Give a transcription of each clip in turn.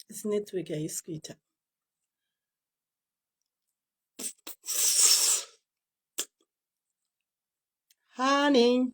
This network haisi kuita. Honey.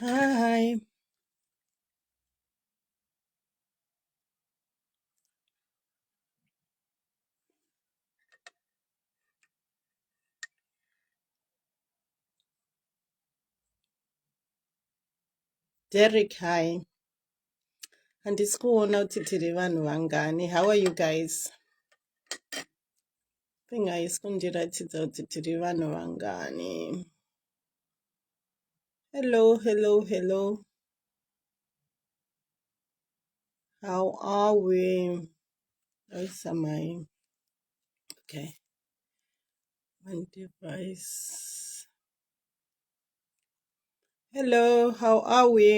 Hi. Derek, hi. Handisi kuona kuti tiri vanhu vangani. How are you guys? thing haisi kundiratidza kuti tiri vanhu vangani hello hello hello how are we aisamai okay one device hello how are we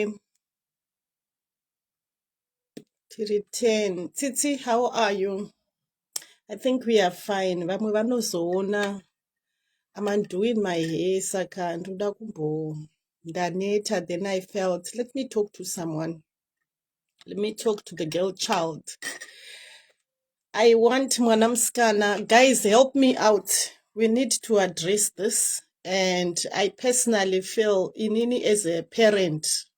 tiri 10 tsitsi how are you i think we are fine vamwe vanozoona am undoing my hair saka ndoda kumbo ndaneta then i felt let me talk to someone let me talk to the girl child i want mwana musikana guys help me out we need to address this and i personally feel inini as a parent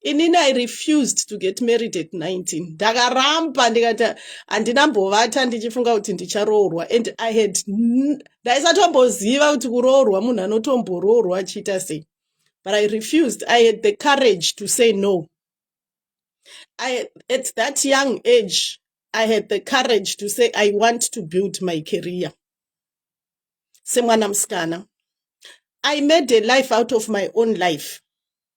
inini i refused to get married at 19 ndakaramba ndikati handina mbovata ndichifunga kuti ndicharoorwa and i had ndaisatomboziva kuti kuroorwa munhu anotomboroorwa achiita sei but i refused i had the courage to say no I, at that young age i had the courage to say i want to build my career semwana musikana i made a life out of my own life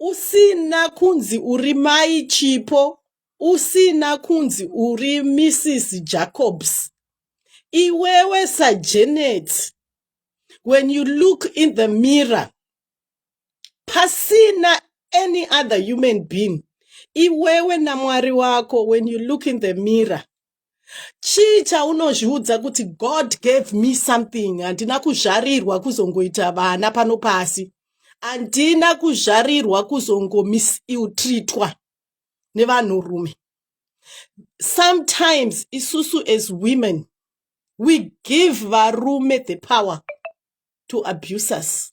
usina kunzi uri mai chipo usina kunzi uri mrs jacobs iwewe sajanet when you look in the mirror pasina any other human being iwewe namwari wako when you look in the mirror chii chaunozviudza kuti god gave me something handina kuzvarirwa kuzongoita vana pano pasi handina kuzvarirwa kuzongomisiltritwa nevanhurume sometimes isusu as women we give varume the power to abuse us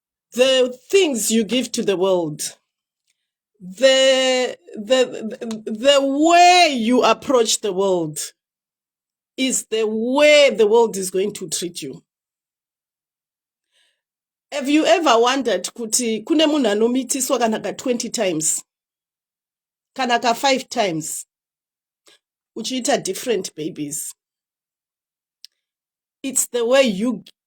the things you give to the world the the the the way you approach the world is the way the world is going to treat you have you ever wondered kuti kune munhu anomitiswa kana ka 20 times kana ka 5 times uchiita different babies it's the way you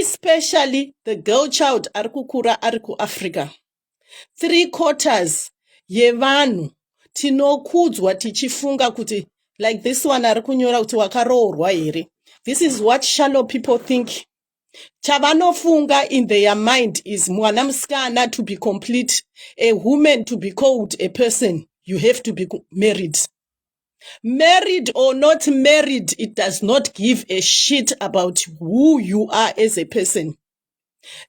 especially the girl child ari kukura ari kuafrica three quarters yevanhu tinokudzwa tichifunga kuti like this one ari kunyora kuti wakaroorwa here this is what shallow people think chavanofunga in their mind is mwana musikana to be complete a woman to be called a person you have to be married Married or not married, it does not give a shit about who you are as a person.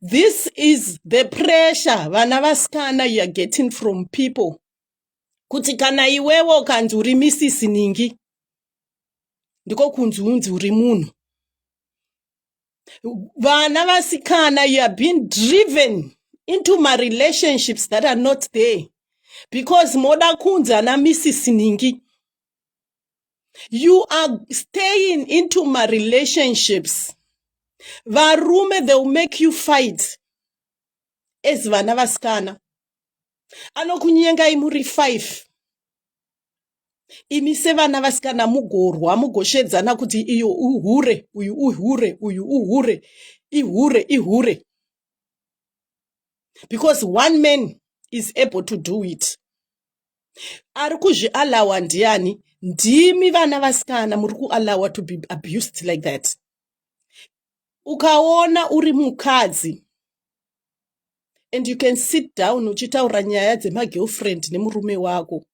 This is the pressure vana vasikana you are getting from people. Kuti kana iwewe ukanzi uri Mrs. Ningi, ndiko kunzi unzi uri munhu. vana vasikana you are being driven into my relationships that are not there because moda kunzi ana mrs ningi you are staying into my relationships varume they will make you fight as vana vasikana anokunyengai muri five imi sevana vasikana mugorwa mugoshedzana kuti iyo uhure uyu uhure uyu uhure ihure ihure because one man is able to do it ari kuzvialawa ndiani ndimi vana vasikana muri kualawa to be abused like that ukaona uri mukadzi and you can sit down uchitaura nyaya dzemagirlfriend nemurume wako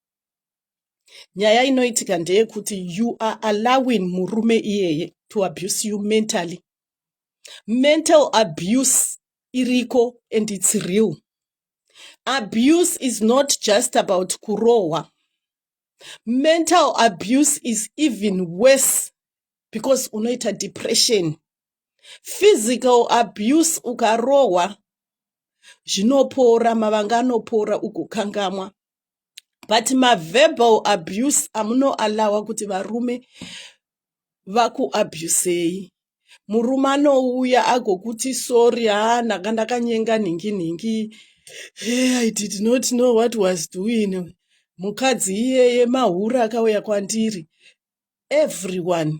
nyaya inoitika ndeyekuti you are allowing murume iyeye to abuse you mentally mental abuse iriko and its real abuse is not just about kurohwa mental abuse is even worse because unoita depression physical abuse ukarohwa zvinopora mavanga anopora ugokangamwa but maverbal abuse amunoalawa kuti varume vakuabusei murume anouya agokuti sori haa ndanga ndakanyenga nhingi nhingi hey, i did not know what was doing mukadzi iyeye mahura akauya kwandiri everyone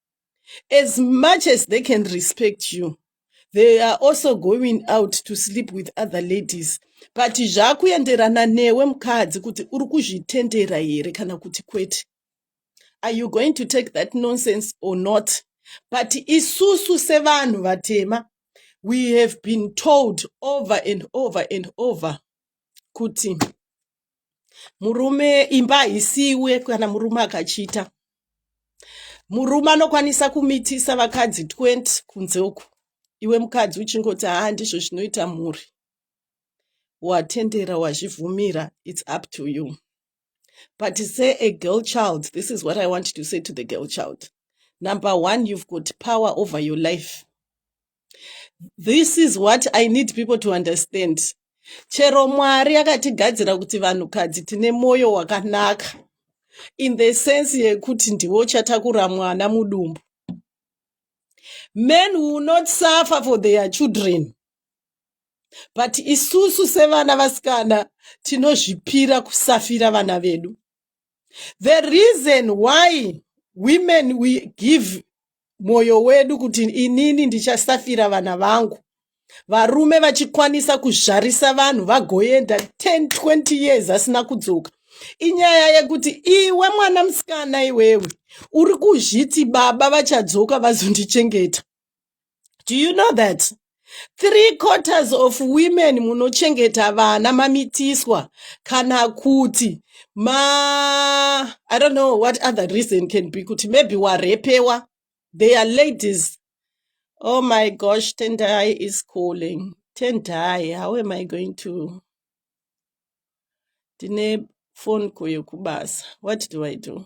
as much as they can respect you they are also going out to sleep with other ladies but zvakuenderana newe mukadzi kuti uri kuzvitendera here kana kuti kwete are you going to take that nonsense or not but isusu sevanhu vatema we have been told over and over and over kuti murume imba haisiwe kana murume akachita murume anokwanisa kumitisa vakadzi 20 kunze uku iwe mukadzi uchingoti haa ndizvo zvinoita mhuri watendera wazvivhumira its up to you but say a girl child this is what i want to say to the girl child number one you've got power over your life this is what i need people to understand chero mwari akatigadzira kuti vanhukadzi tine mwoyo wakanaka in the sense yekuti ndiwo chatakura mwana mudumbu men will not suffer for their children but isusu sevana vasikana tinozvipira kusafira vana vedu the reason why women we give mwoyo wedu kuti inini ndichasafira vana vangu varume vachikwanisa kuzvarisa vanhu vagoenda 10 20 years asina kudzoka inyaya yekuti iwe mwana musikana iwewe uri kuzviti baba vachadzoka vazondichengeta do you know that three quarters of women munochengeta vana mamitiswa kana kuti ma i don't know what other reason can be kuti maybe warepewa they are ladies oh my gosh tendai is calling tendai how am i going to ndine phone call yekubasa what do i do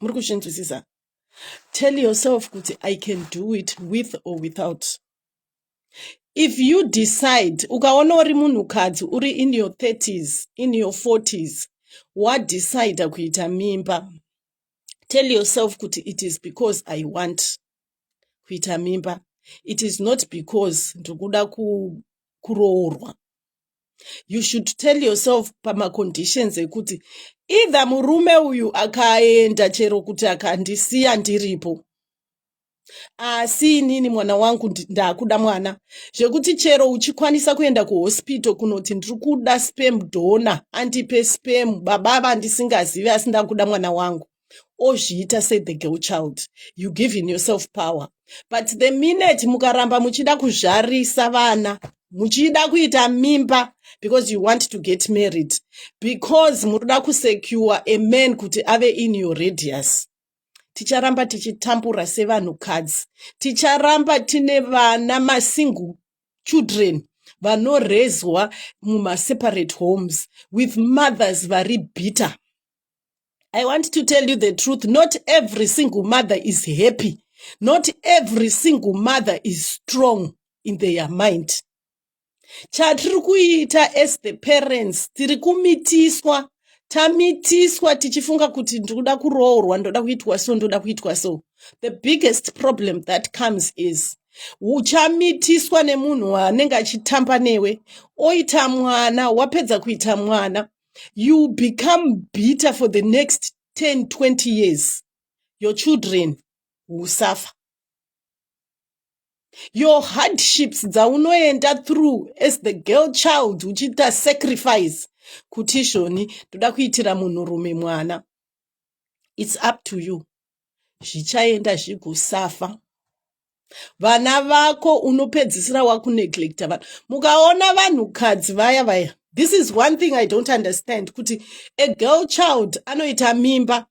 muri kuzvinzwisisa tell yourself kuti i can do it with or without if you decide ukaona uri munhukadzi uri in your 30s in your 40s wadecide kuita mimba tell yourself kuti it is because i want kuita mimba it is not because ndiri kuda kuroorwa you should tell yourself pamaconditions ekuti either murume uyu akaenda chero kuti akandisiya ndiripo asi inini mwana wangu ndakuda mwana zvekuti chero uchikwanisa kuenda kuhospital kunoti ndiri kuda spem dona andipe spem baba vandisingazivi asi ndakuda mwana wangu ozviita se the girl child you giving yourself power but the minute mukaramba muchida kuzvarisa vana muchida kuita mimba because you want to get married because munoda kusecure a man kuti ave in your radius ticharamba tichitambura sevanhukadzi ticharamba tine vana masingle children vanorezwa mumaseparate homes with mothers vari bitter I want to tell you the truth. Not every single mother is happy. Not every single mother is strong in their mind. Chatiri kuita as the parents, tiri kumitiswa, tamitiswa tichifunga kuti ndikuda kuroorwa, ndoda kuitwa so, ndoda kuitwa so. The biggest problem that comes is uchamitiswa nemunhu waanenge achitamba newe oita mwana wapedza kuita mwana you become bitter for the next 10 20 years your children will suffer your hardships dzaunoenda through as the girl child uchiita sacrifice kuti izvoni ndoda kuitira munhurume mwana its up to you zvichaenda zvigusafa vana vako unopedzisira wakuneglecta vanhu mukaona vanhukadzi vaya vaya this is one thing i don't understand kuti a girl child anoita mimba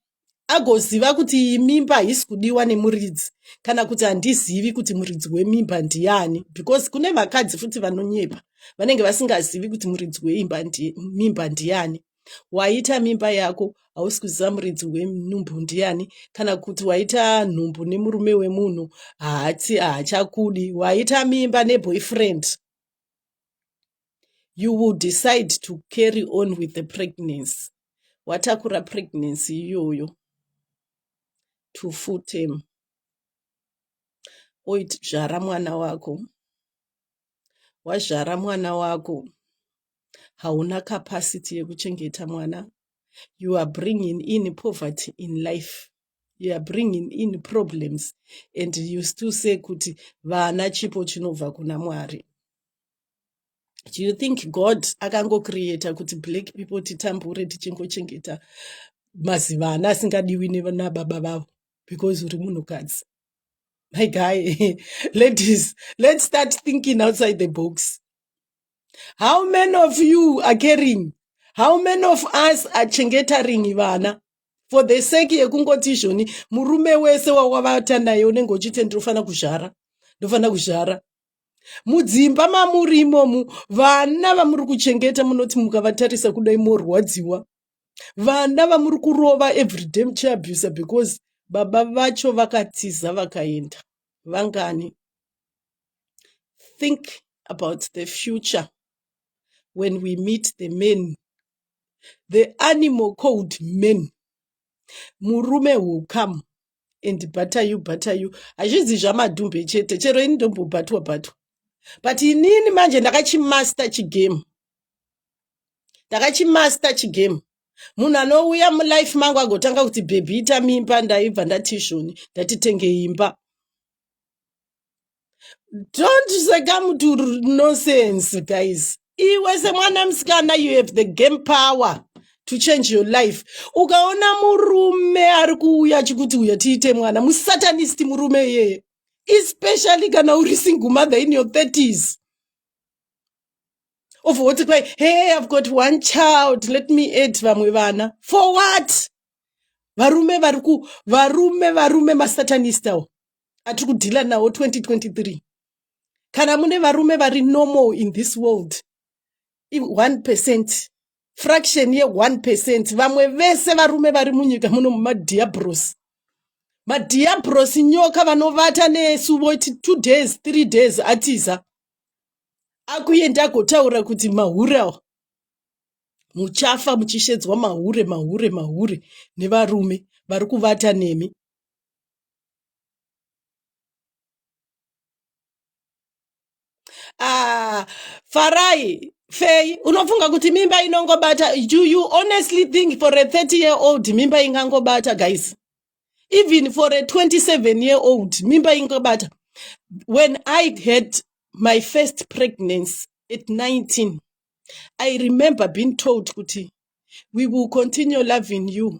agoziva kuti iyi mimba haisi kudiwa nemuridzi kana kuti handizivi kuti muridzi wemimba ndiani because kune vakadzi futi vanonyepa vanenge vasingazivi kuti muridzi weimba mimba ndiani ndi waita mimba yako hausi kuziva muridzi wenhumbu ndiani kana kuti waita nhumbu nemurume wemunhu haati haachakudi waita mimba neboyfriend you will decide to carry on with the pregnancy watakura pregnancy iyoyo to full term oit zvara mwana wako wazvara mwana wako hauna capacity yekuchengeta mwana you are bringing in poverty in life you are bringing in problems and you still say kuti vana chipo chinobva kuna mwari do you think god akangocreata kuti black people titambure tichingochengeta mazivana asingadiwi nababa vavo because uri munhukadzi my guy ladies let's start thinking outside the box how many of you are caring how many of us are chengetaring vana for the sake yekungoti izvoni murume wese wawavata naye unenge uchiti ndinofanira kuzvara ndofanira kuzvara mudzimba mamuri imomu vana vamuri kuchengeta munoti mukavatarisa kudai morwadziwa vana vamuri kurova everyday muchiabusa because baba vacho vakatiza vakaenda vangani think about the future when we meet the men the animal called men murume will come and butter you butter you hazvizi zvamadhumbe chete chero ini ndombobatwa batwa but inini manje ndakachimaster chigame ndakachimaster chigame munhu anouya mulife mangu agotanga kuti bhebhi ita mimba ndaibva ndati izvoni ndatitenge imba don't seka muti nonsense guys iwe semwana musikana you have the game power to change your life ukaona murume ari kuuya achikuti uya tiite mwana musatanist murume iyeye especially kana uri single mother in your 30s of woti kwai hey i've got one child let me add vamwe vana for what varume vari ku varume varume masatanistawo atiri kudhila nawo 2023 kana mune varume vari normal in this world i1 percent fraction ye1 percent vamwe vese varume vari munyika muno mumadiabros madiabros nyoka vanovata nesu voti two days three days atiza akuenda agotaura kuti mahure awa muchafa muchishedzwa mahure mahure mahure nevarume vari kuvata nemi ah, farai fei unofunga kuti mimba inongobata do you honestly think for a 30 year old mimba ingangobata guys even for a 27 year old mimba ingobata when i had my first pregnancy at 19 i remember being told kuti we will continue loving you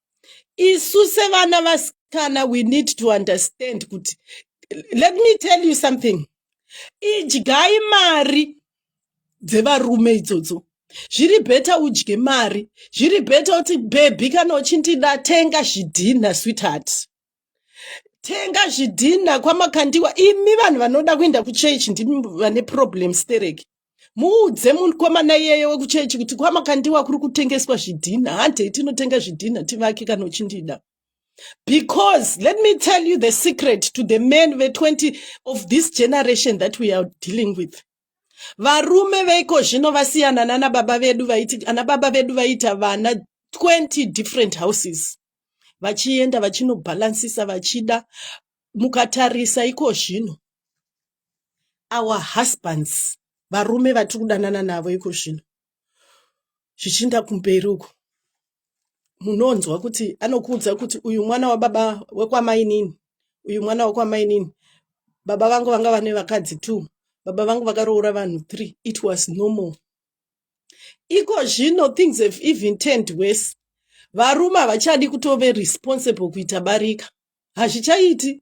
isu sevana vasikana we need to understand kuti let me tell you something idyai mari dzevarume idzodzo zviri bheta udye mari zviri bheta kuti bhebhi kana uchindida tenga zvidhinha sweetheart tenga zvidhina kwamakandiwa imi vanhu vanoda kuenda kuchechi ndimi vane problem stereki muudze mukomana iyeye wekuchechi kuti kwamakandiwa kuri kutengeswa zvidhina handei tinotenga zvidhina tivake kana uchindida because let me tell you the secret to the men ve20 of this generation that we are dealing with varume veiko zvino vasiyana nana baba vedu vaiti ana baba vedu vaita vana 20 different houses vachienda vachinobhalansisa vachida mukatarisa iko zvino our husbands varume vatiri kudanana navo iko zvino zvichiinda kumberi uko munonzwa kuti anokuudza kuti uyu mwana wababa wekwamainini uyu mwana wekwamainini baba vangu vanga vane vakadzi two baba vangu vakaroora vanhu three it was normal iko zvino things have even turned worse varume havachadi kutove responsible kuita barika hazvichaiti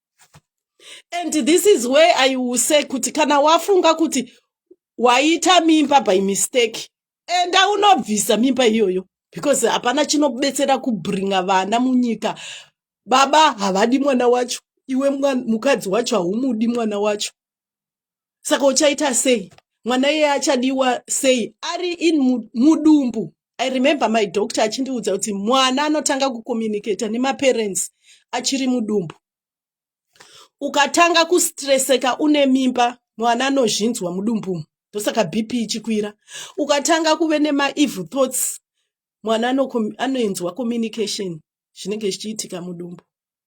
and this is where i will say kuti kana wafunga kuti waita mimba by mistake enda unobvisa mimba iyoyo because hapana chinobetsera kubringa vana munyika baba havadi mwana wacho iwe mukadzi wacho haumudi mwana wacho saka uchaita sei mwana iye achadiwa sei ari in mudumbu i remember my doctor achindiudza kuti mwana anotanga kucommunicata nemaparents achiri mudumbu ukatanga kustreseka une mimba mwana anozvinzwa mudumbu ndosaka bp ichikwira ukatanga kuve nemaeve thoughts mwana anoinzwa communication zvinenge zvichiitika mudumbu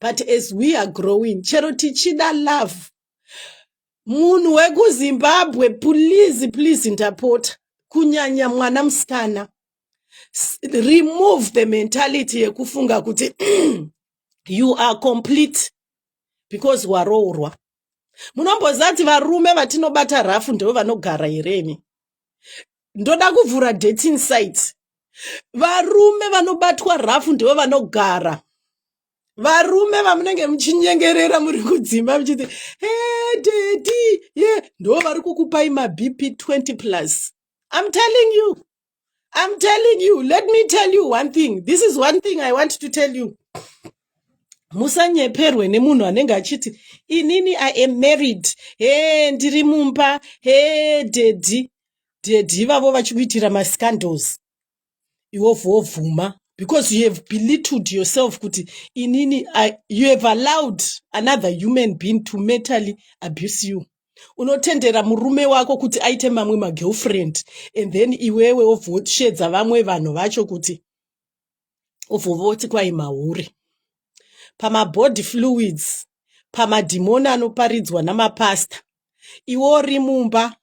but as we are growing chero tichida love munhu wekuzimbabwe please please ndapota kunyanya mwana musikana remove the mentality yekufunga kuti you are complete because waroorwa munomboziva kuti varume vatinobata rafu ndivo vanogara here imi ndoda kuvhura dating site varume vanobatwa rafu ndivo vanogara varume vamunenge muchinyengerera muri kudzimba muchiti hededi ye ndo vari kukupai mabp 20 plus im telling you im telling you let me tell you one thing this is one thing i want to tell you musanyeperwe nemunhu anenge achiti inini i am married he ndiri mumba he dedi daddy ivavo vachikuitira mascandals iwobva wobvuma because you have belittled yourself kuti inini you have allowed another human being to mentally abuse you unotendera murume wako kuti aite mamwe magirlfriend and then iwewe wobva woshedza vamwe vanhu vacho kuti obva voti kwai mahure pamabody fluids pamadhimoni anoparidzwa namapasta iwe uri mumba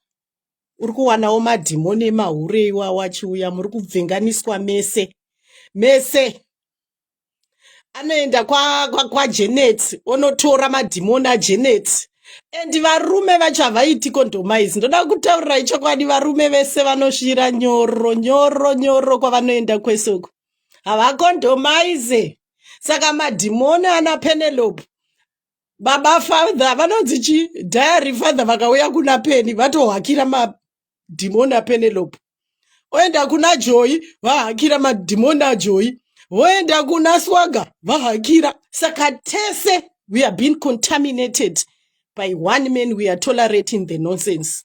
uri kuwanawo madhimoni emahure iwawo achiuya muri kubvenganiswa mese mese anoenda kwajenet kwa, kwa onotora madhimoni ajenet and varume vacho havaiti condomise ndoda kutaurirai chokwadi varume vese vanosvira nyoro nyoro nyoro kwavanoenda kwese uko havacondomise saka madhimoni ana penelope baba father vanonzi chi diary father vakauya kuna peni vatohakira madhimoni apenelope oenda kuna joyi vahakira madhimoni ajoyi voenda kuna swaga vahakira saka tese we have been contaminated by one man we are tolerating the nonsense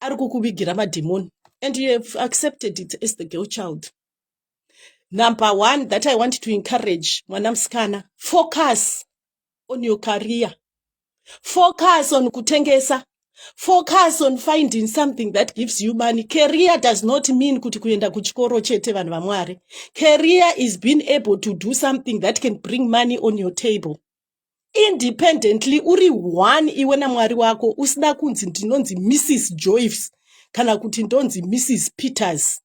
ari kukuvigira madhimoni and you have accepted it as the girl child number one that i want to encourage mwana musikana focus on your career focus on kutengesa focus on finding something that gives you money career does not mean kuti kuenda kuchikoro chete vanhu vamwari career is being able to do something that can bring money on your table independently uri one iwe namwari wako usida kunzi ndinonzi mrs joyce kana kuti ndonzi mrs peters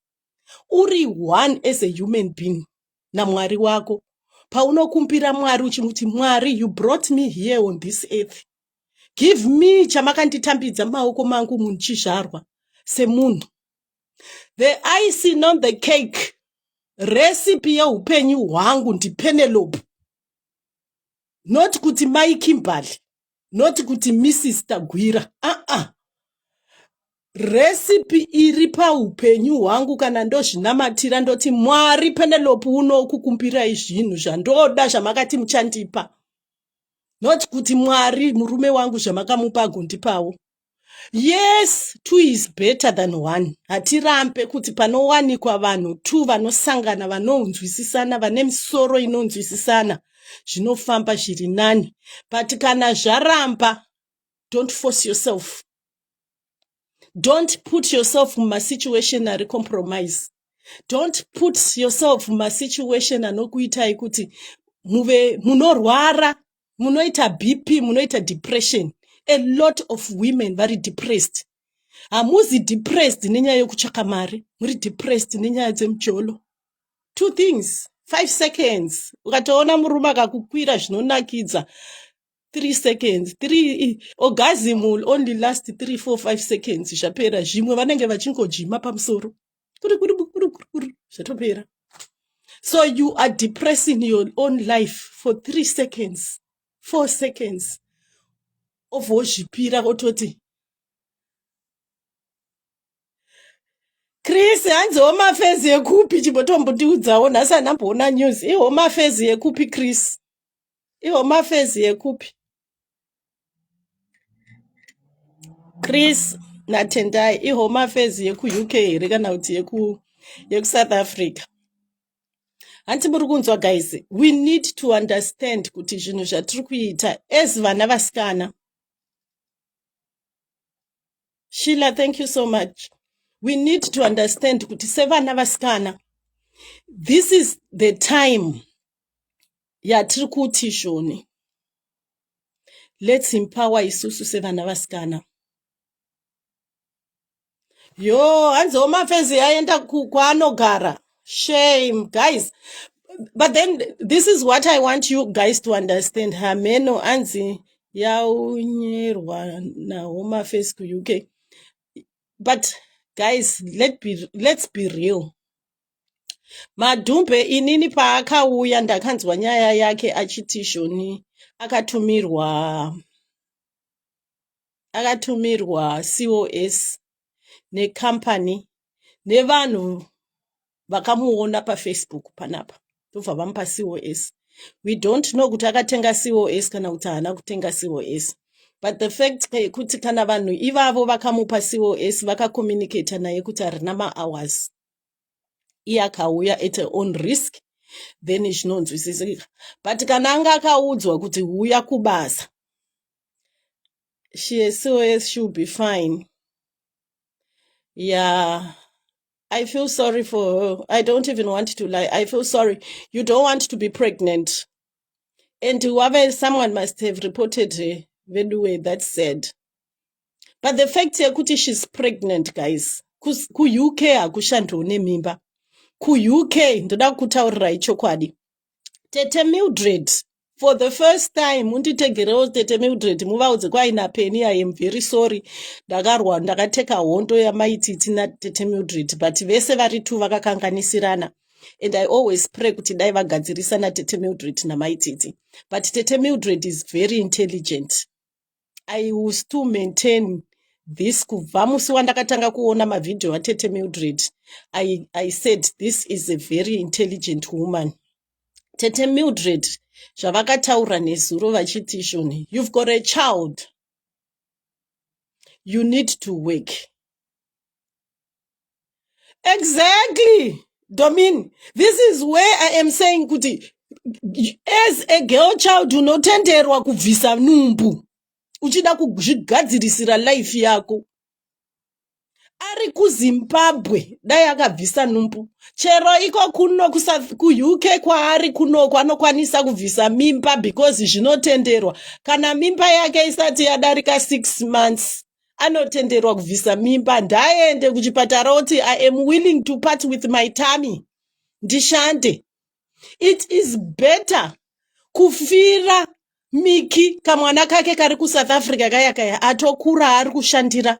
uri one as a human being namwari wako paunokumbira mwari uchimuti mwari you brought me here on this earth give me chamakanditambidza maoko mangu munhu chizvarwa semunhu the ice non the cake recipe yeupenyu hwangu ndipenelope not kuti mai kimberly not kuti mrs tagwira aa uh -uh. resipi iri paupenyu hwangu kana ndozvinamatira ndoti mwari penelope unokukumbirai zvinhu zvandoda zvamakati muchandipa not kuti mwari murume wangu zvamakamupa agondipawo yes two is better than one hatirambe kuti panowanikwa vanhu two vanosangana vanonzwisisana vane misoro inonzwisisana zvinofamba zviri nani but kana zvaramba don't force yourself don't put yourself mumasituation ari compromise don't put yourself mumasituation anokuitai kuti muve munorwara munoita bp munoita depression a lot of women vari depressed hamuzi depressed nenyaya yokutsvaka mari muri depressed nenyaya dzemujolo two things five seconds ukatoona murume akakukwira zvinonakidza three seconds three orgasm will only last three four five seconds zvapera zvimwe vanenge vachingojima pamusoro kuri kuri kuri kuri kuri zvatopera so you are depressing your own life for three seconds four seconds of wozvipira ototi chris hanzi home affairs yekupi chimbotombotiudzawo nhasi anamboona news ihome affairs yekupi chris ihome affairs yekupi chris natendai ihome affairs yekuuk here kana kuti yeku yekusouth africa hanti muri kunzwa guys we need to understand kuti zvinhu zvatiri kuita as vana vasikana shila thank you so much we need to understand kuti sevana vasikana this is the time yatiri kuti izvoni lets empower isusu sevana vasikana yo hanzi omafezi aenda kwaanogara shame guys but then this is what i want you guys to understand hameno anzi yaunyerwa nahomafesi kuuk but guys let be, let's be real Madhumbe inini paakauya ndakanzwa nyaya yake achiti Joni akatumirwa akatumirwa COS necompany nevanhu vakamuona pafacebook panapa ndobva vamupa COS we don't know kuti akatenga COS kana kuti haana kutenga COS but the fact yekuti kana vanhu ivavo vakamupa COS vakakomunicata naye kuti harina mahours iye akauya at her own risk then zvinonzwisisika but kana anga akaudzwa kuti huya kubasa she sos she will be fine yeah I feel sorry for her. I don't even want to lie. I feel sorry. You don't want to be pregnant. And whoever, someone must have reported her. Veduwe, that's sad. but the fact yekuti she's pregnant guys kuuk hakushandiwo nemimba kuuk ndoda kutaurirai chokwadi tete mildred for the first time munditegerewo tete mildred muvaudze kwaina peni i am very sorry ndakarwa ndakateka hondo yamaititi natete mildred but vese vari two vakakanganisirana and i always pray kuti dai vagadzirisa natete mildred namaititi but tete mildred is very intelligent I will still maintain this kubva musi wandakatanga kuona mavhidhiyo atete mildred I, i said this is a very intelligent woman tete mildred zvavakataura nezuro vachiti shoni you've got a child you need to work exactly domin this is where i am saying kuti as a girl child unotenderwa kubvisa numbu uchida kuzvigadzirisira life yako ari kuzimbabwe dai akabvisa numbu chero iko kuno kuuk kwaari kunoko anokwanisa kubvisa mimba because zvinotenderwa kana mimba yake isati yadarika six months anotenderwa kubvisa mimba ndaende kuchipatara oti i am willing to part with my tummy ndishande it is better kufira miki kamwana kake kari kusouth africa kaya kaya atokura ari kushandira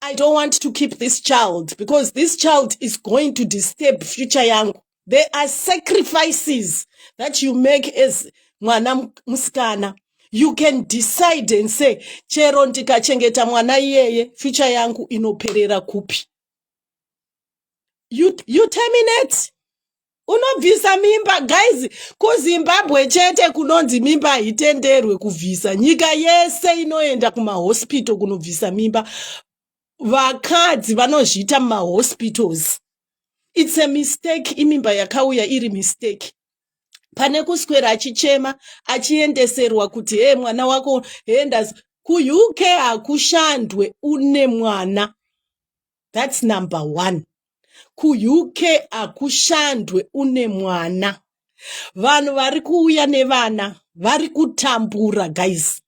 i don't want to keep this child because this child is going to disturb future yangu there are sacrifices that you make as mwana musikana you can decide and say chero ndikachengeta mwana iyeye future yangu inoperera kupi you, you terminate unobvisa mimba guys kuzimbabwe chete kunonzi mimba haitenderwe kubvisa nyika yese inoenda kumahospital kunobvisa mimba vakadzi vanozviita mumahospitals its a mistake imimba yakauya iri mistake pane kuswera achichema achiendeserwa kuti hee mwana wako hendas kuuk hakushandwe une mwana thats number one kuuk hakushandwe une mwana vanhu vari kuuya nevana vari kutambura guys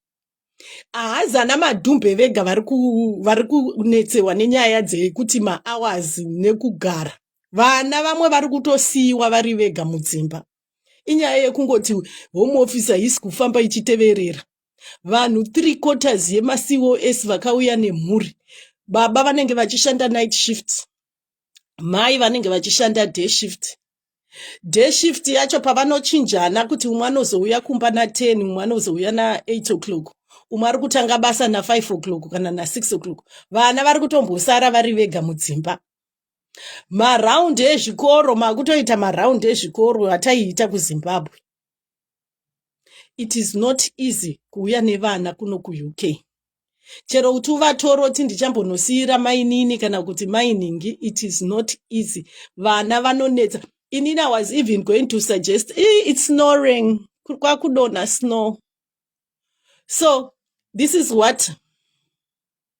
ahazana madhumbe vega vari kunetsewa nenyaya dzekuti mahours nekugara vana vamwe vari kutosiyiwa vari vega mudzimba inyaya yekungoti home officer hisi kufamba ichiteverera vanhu three quarters yemacos vakauya nemhuri baba vanenge vachishanda night shift mai vanenge vachishanda day shift day shift yacho pavanochinjana kuti umwe anozouya kumba na10 umwe anozouya na8 o'clock umwe ari kutanga basa na5 o'clock kana na6 o'clock vana vari kutombosara vari vega mudzimba maraundi ezvikoro makutoita maraundi ezvikoro ataiita kuzimbabwe it is not easy kuuya nevana kuno kuuk chero kuti uvatoro ti ndichambonosiira mainini kana kuti mainingi it is not easy vana vanonetsa inini i was even going to suggest eh, it's snoring kwakudonha snow so this is what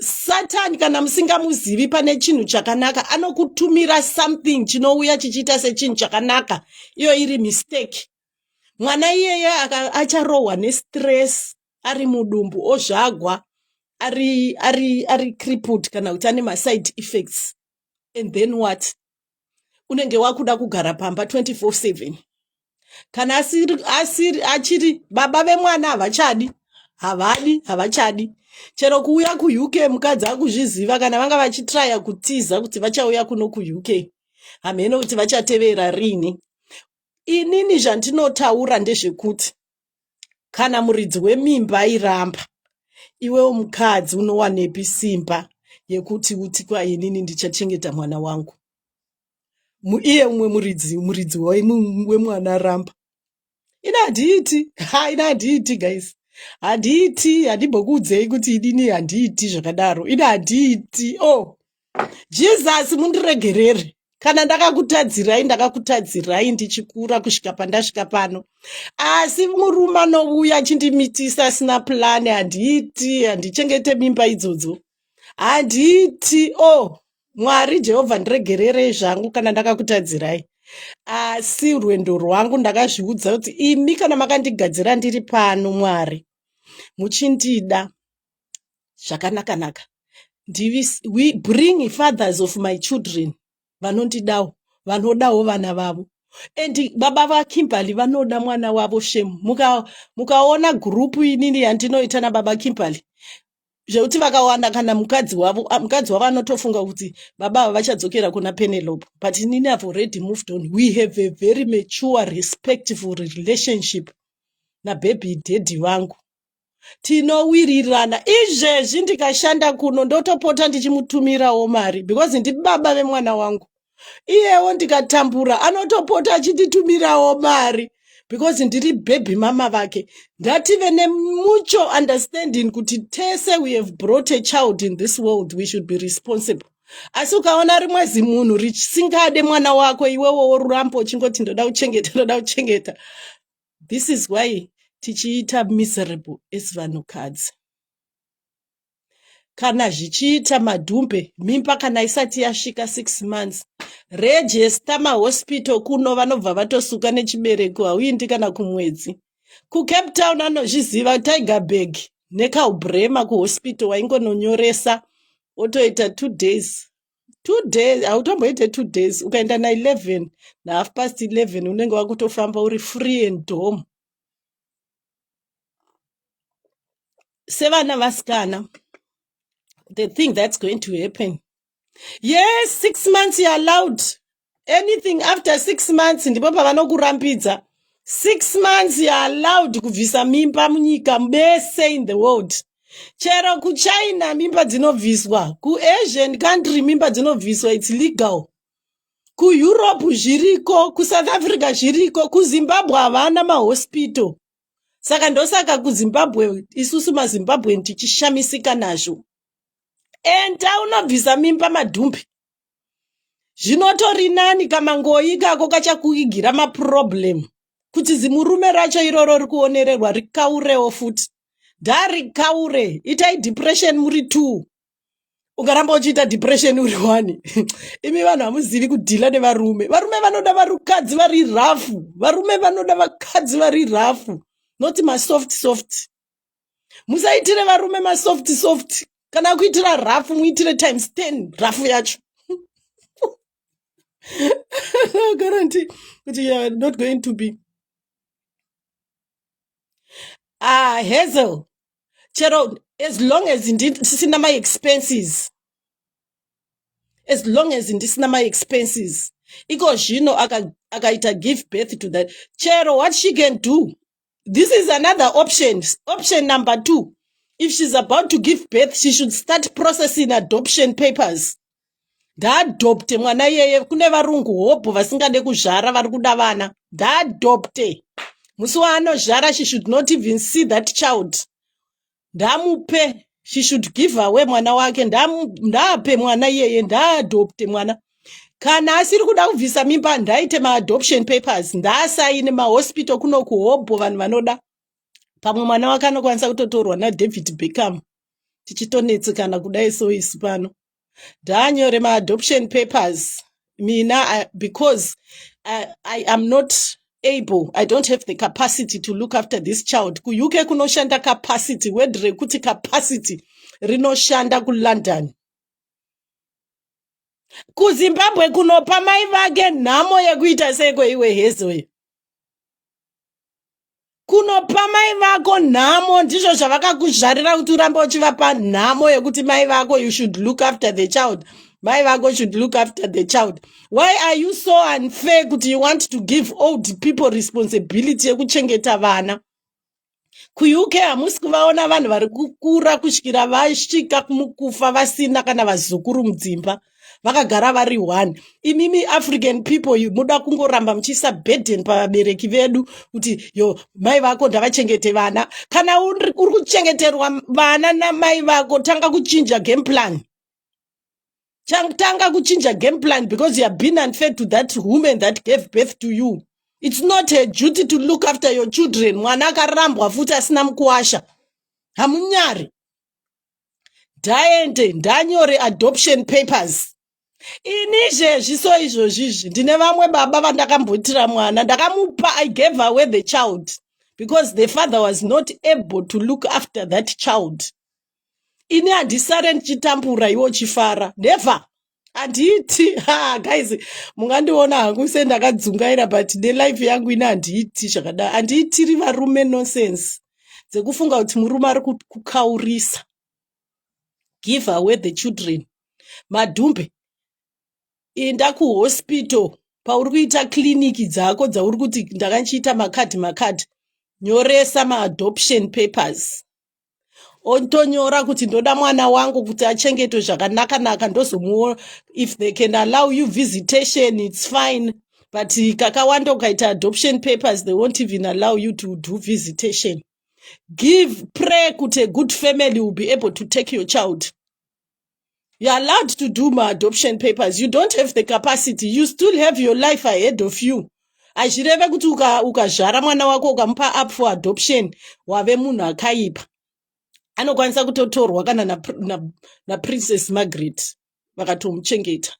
satani kana musingamuzivi pane chinhu chakanaka anokutumira something chinouya chichiita sechinhu chakanaka iyo iri mistake mwana iyeye acharohwa nestress ari mudumbu ozvagwa ari ari ari crippled kana kuti ane maside effects and then what unenge wakuda kugara pamba 24/7 kana asiri asiri achiri baba vemwana havachadi havadi havachadi chero kuuya kuuk mukadzi akuzviziva kana vanga vachitraya kutiza kuti vachauya kuno kuuk hamheno kuti vachatevera rini inini zvandinotaura ndezvekuti kana muridzi wemimba airamba iwewo mukadzi unowanepi simba yekuti uti kwa inini ndichachengeta mwana wangu iye umwe muridzi muridzi wemwana aramba ini handiiti ha ini handiiti guys handiiti handimbokuudzei kuti inini handiiti zvakadaro ini handiiti o oh. jesus mundiregerere kana ndakakutadzirai ndakakutadzirai ndichikura kusvika pandasvika pano asi murume anouya achindimitisa asina pulani handiiti handichengete mimba idzodzo handiiti o oh, mwari jehovha ndiregererei zvangu kana ndakakutadzirai asi rwendo rwangu ndakazviudza kuti imi kana makandigadzira ndiri pano mwari muchindida zvakanaka naka ndivis we bring fathers of my children vanondidawo vanodawo vana vavo and baba vakimberly vanoda mwana wavo shem mukaona muka gurupu inini yandinoita nababa kimberly zvekuti vakawana kana mukadzi wavo ah, mukadzi wavo anotofunga kuti baba ava vachadzokera kuna penelope but inini have already moved on we have a very mature respectful relationship nabhebhi dhedhi vangu tinowirirana izvezvi ndikashanda kuno ndotopota ndichimutumirawo mari because ndibaba vemwana wangu iyewo ndikatambura anotopota achinditumirawo mari because ndiri bhebhi mama vake ngative nemucho understanding kuti tese we have brought a child in this world we should be responsible asi ukaona rimwe zimunhu risingade mwana wako iwewo worurambo uchingoti ndoda kuchengeta ndoda kuchengeta this is why tichiita miserable as vanhukadzi kana zvichiita madhumbe mimba kana isati yasvika six months rejesta mahospital kuno vanobva vatosuka nechibereko hauindi kana kumwedzi kucape town anozviziva tiger bag nekaubrema kuhospital waingononyoresa otoita two days two days hautomboite two days ukaenda na11 nahalf past 11 unenge wakutofamba uri free and home sevana vasikana the thing that's going to happen yes six months you're allowed anything after six months ndipo pavanokurambidza six months you're allowed kubvisa mimba munyika mese in the world chero kuchina mimba dzinobviswa kuasian country mimba dzinobviswa its legal kueurope zviriko kusouth africa zviriko kuzimbabwe havana mahospital saka ndosaka kuzimbabwe isusu mazimbabwen tichishamisika nazvo enda unobvisa mimba madhumbi zvinotori nani kamangoyi ikako kachakuigira maproblem kuti zimurume racho iroro rikuonererwa rikaurewo futi ndarikaure itai depression muri two ukaramba uchiita depression uri one imi vanhu hamuzivi kudhila nevarume varume vanoda varukadzi vari rafu varume vanoda vakadzi vari rafu not masoft soft musaitire varume masoft soft kana kuitira rafu muitire times ten rafu yacho guarantee kuti you are not going to be ah hazel chero as long as ndisina my expenses as long as ndisina my expenses iko zvino akaita give birth to that chero what she can do this is another option option number two if she's about to give birth she should start processing adoption papers ngaadopte mwana iyeye kune varungu hobho vasingade kuzvara vari kuda vana ngaadopte musi waanozvara she should not even see that child ndamupe she should give away mwana wake ndaape mwana iyeye ndaadopte mwana kana asiri kuda kubvisa mimba ndaite maadoption papers ndaasaine mahospital kuno kuhobho vanhu vanoda pamwe mwana wake anokwanisa kutotorwa nadavid beckham tichitonetsekana kudai so isu pano ndaanyore maadoption papers mina I, because I, I am not able i don't have the capacity to look after this child kuuk kunoshanda capacity word rekuti capacity rinoshanda kulondon kuzimbabwe kunopa mai vake nhamo yekuita seiko iwe hezoyo kunopa mai vako nhamo ndizvo zvavakakuzvarira kuti urambe uchivapa nhamo yekuti mai vako you should look after the child mai vako should look after the child why are you so unfair kuti you want to give old people responsibility yekuchengeta vana kuuk hamusi kuvaona vanhu vari kukura kusvikira vasvika kumukufa vasina kana vazukuru mudzimba vakagara vari one imimi african people you muda kungoramba muchiisa burden pavabereki vedu kuti yo mai vako ndavachengete vana kana uri kuchengeterwa vana namai vako tanga kuchinja game plan tanga kuchinja game plan because you have been unfair to that woman that gave birth to you it's not a duty to look after your children mwana akarambwa futi asina mukuwasha hamunyari ndaende ndanyore adoption papers ini izvezvi so izvozvizvi ndine vamwe baba vandakamboitira mwana ndakamupa i gave away the child because the father was not able to look after that child ini handisare ndichitambura iwe uchifara never handiiti ha guys mungandiona hangu se ndakadzungaira but nelife yangu ine handiiti zvakadai handiitiri varume nonsense dzekufunga kuti murume ari kukaurisa give away the children madhumbe inda kuhospital pauri kuita kiriniki dzako dzauri kuti ndakanchiita makadhi makadhi nyoresa maadoption papers otonyora kuti ndoda mwana wangu kuti achengetwe zvakanaka naka ndozomuona if they can allow you visitation it's fine but kakawanda ukaita adoption papers they won't even allow you to do visitation give pray kuti a good family will be able to take your child You're allowed to do my adoption papers. You don't have the capacity. You still have your life ahead of you. Hazvireve kuti ukazvara mwana wako ukamupa up for adoption wave munhu akaipa. Anokwanisa kutotorwa kana na, na, na Princess Margaret vakatomuchengeta.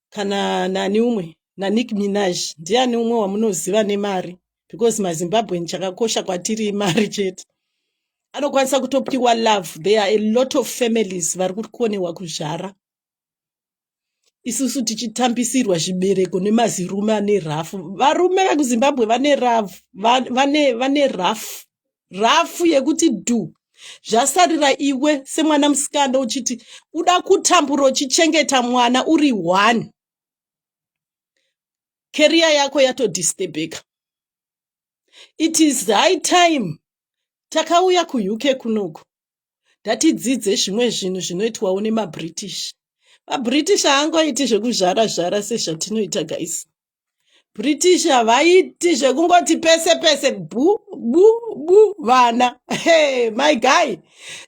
kana nani umwe naNick Minaj ndiani umwe wamunoziva nemari because maZimbabwean chakakosha kwatiri imari chete anokwanisa kutopiwa love there are a lot of families vari kukonewa kuzvara isusu tichitambisirwa zvibereko nemazirume ane rafu varume vekuzimbabwe vane rafu vane, vane, vane rafu rafu yekuti dhu zvasarira iwe semwana musikana uchiti uda kutambura uchichengeta mwana uri one keriya yako yatodisturbeka it is high time takauya kuuk kunoku ndatidzidze zvimwe zvinhu zvinoitwawo nemabritish mabritish haangoiti zvekuzvara zvara sezvatinoita guys British havaiti zvekungoti pese pese bu bu bu vana hey, my guy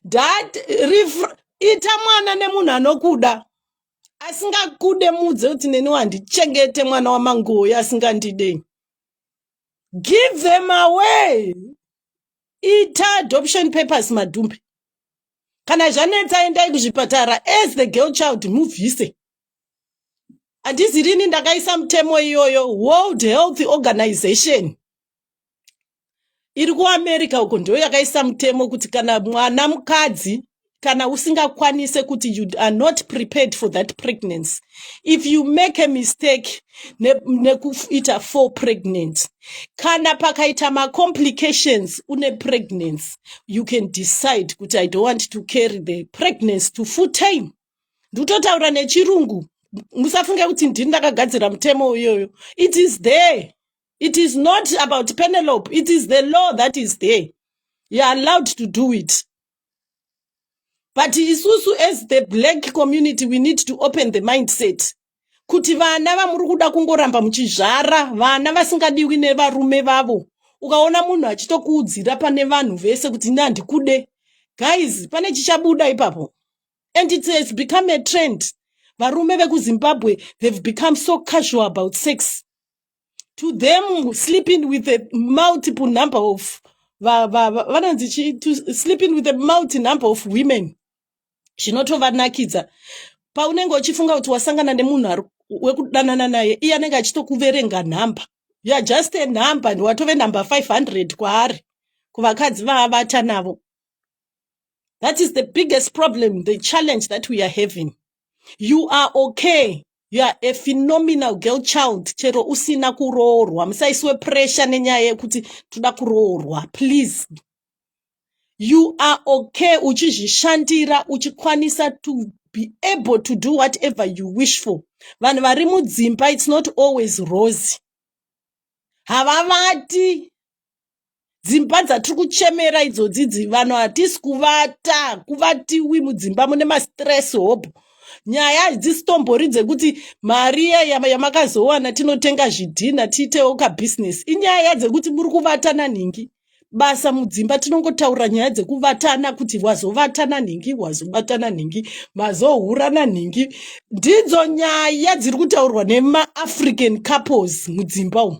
that ita mwana nemunhu anokuda asingakude mudze kuti neni wandichengete mwana wamanguoyo asingandidei give them away ita adoption papers madhumbe kana zvanetsa endai kuzvipatara as the girl child mubvise handizi rini ndakaisa mutemo iyoyo world health organization iri kuamerica uko ndiyo yakaisa mutemo kuti kana mwana mukadzi kana usingakwanise kuti you are not prepared for that pregnancy if you make a mistake nekuita ne four pregnant kana pakaita macomplications une pregnancy you can decide kuti i don't want to carry the pregnancy to full time ndutotaura nechirungu musafunge kuti ndini ndakagadzira mutemo uyoyo it is there it is not about penelope it is the law that is there you are allowed to do it but isusu as the black community we need to open the mindset kuti vana vamuri kuda kungoramba muchizvara vana vasingadiwi nevarume vavo ukaona munhu achitokuudzira pane vanhu vese kuti ini handikude guys pane chichabuda ipapo and it has become a trend varume vekuzimbabwe they've become so casual about sex to them sleeping with a multiple number of vanonzi sleeping with a multi number of women zvinotovanakidza paunenge uchifunga kuti wasangana nemunhu wekudanana naye iye anenge achitokuverenga nhamba youare just a number and watove number 500 kwaari kuvakadzi vaavata navo That is the biggest problem, the challenge that we are having. You are okay. You are a phenomenal girl child. Chero usina kuroorwa. Musaiswe pressure nenyaya yekuti toda kuroorwa. Please. You are okay uchizvishandira uchikwanisa to be able to do whatever you wish for. Vanhu vari mudzimba it's not always rosy. Havavati dzimba dzatiri kuchemera idzodzi dzivanhu hatisi kuvata kuvatiwi mudzimba mune mastress hope nyaya hadzisitombori dzekuti mari yamakazowana tinotenga zvidhina tiitewo kabhizinesi inyaya dzekuti muri kuvatana nhingi basa mudzimba tinongotaura nyaya dzekuvatana kuti wazovatana nhingi wazobatana nhingi mazohurana nhingi ndidzo nyaya dziri kutaurwa nemaafrican couples mudzimba umu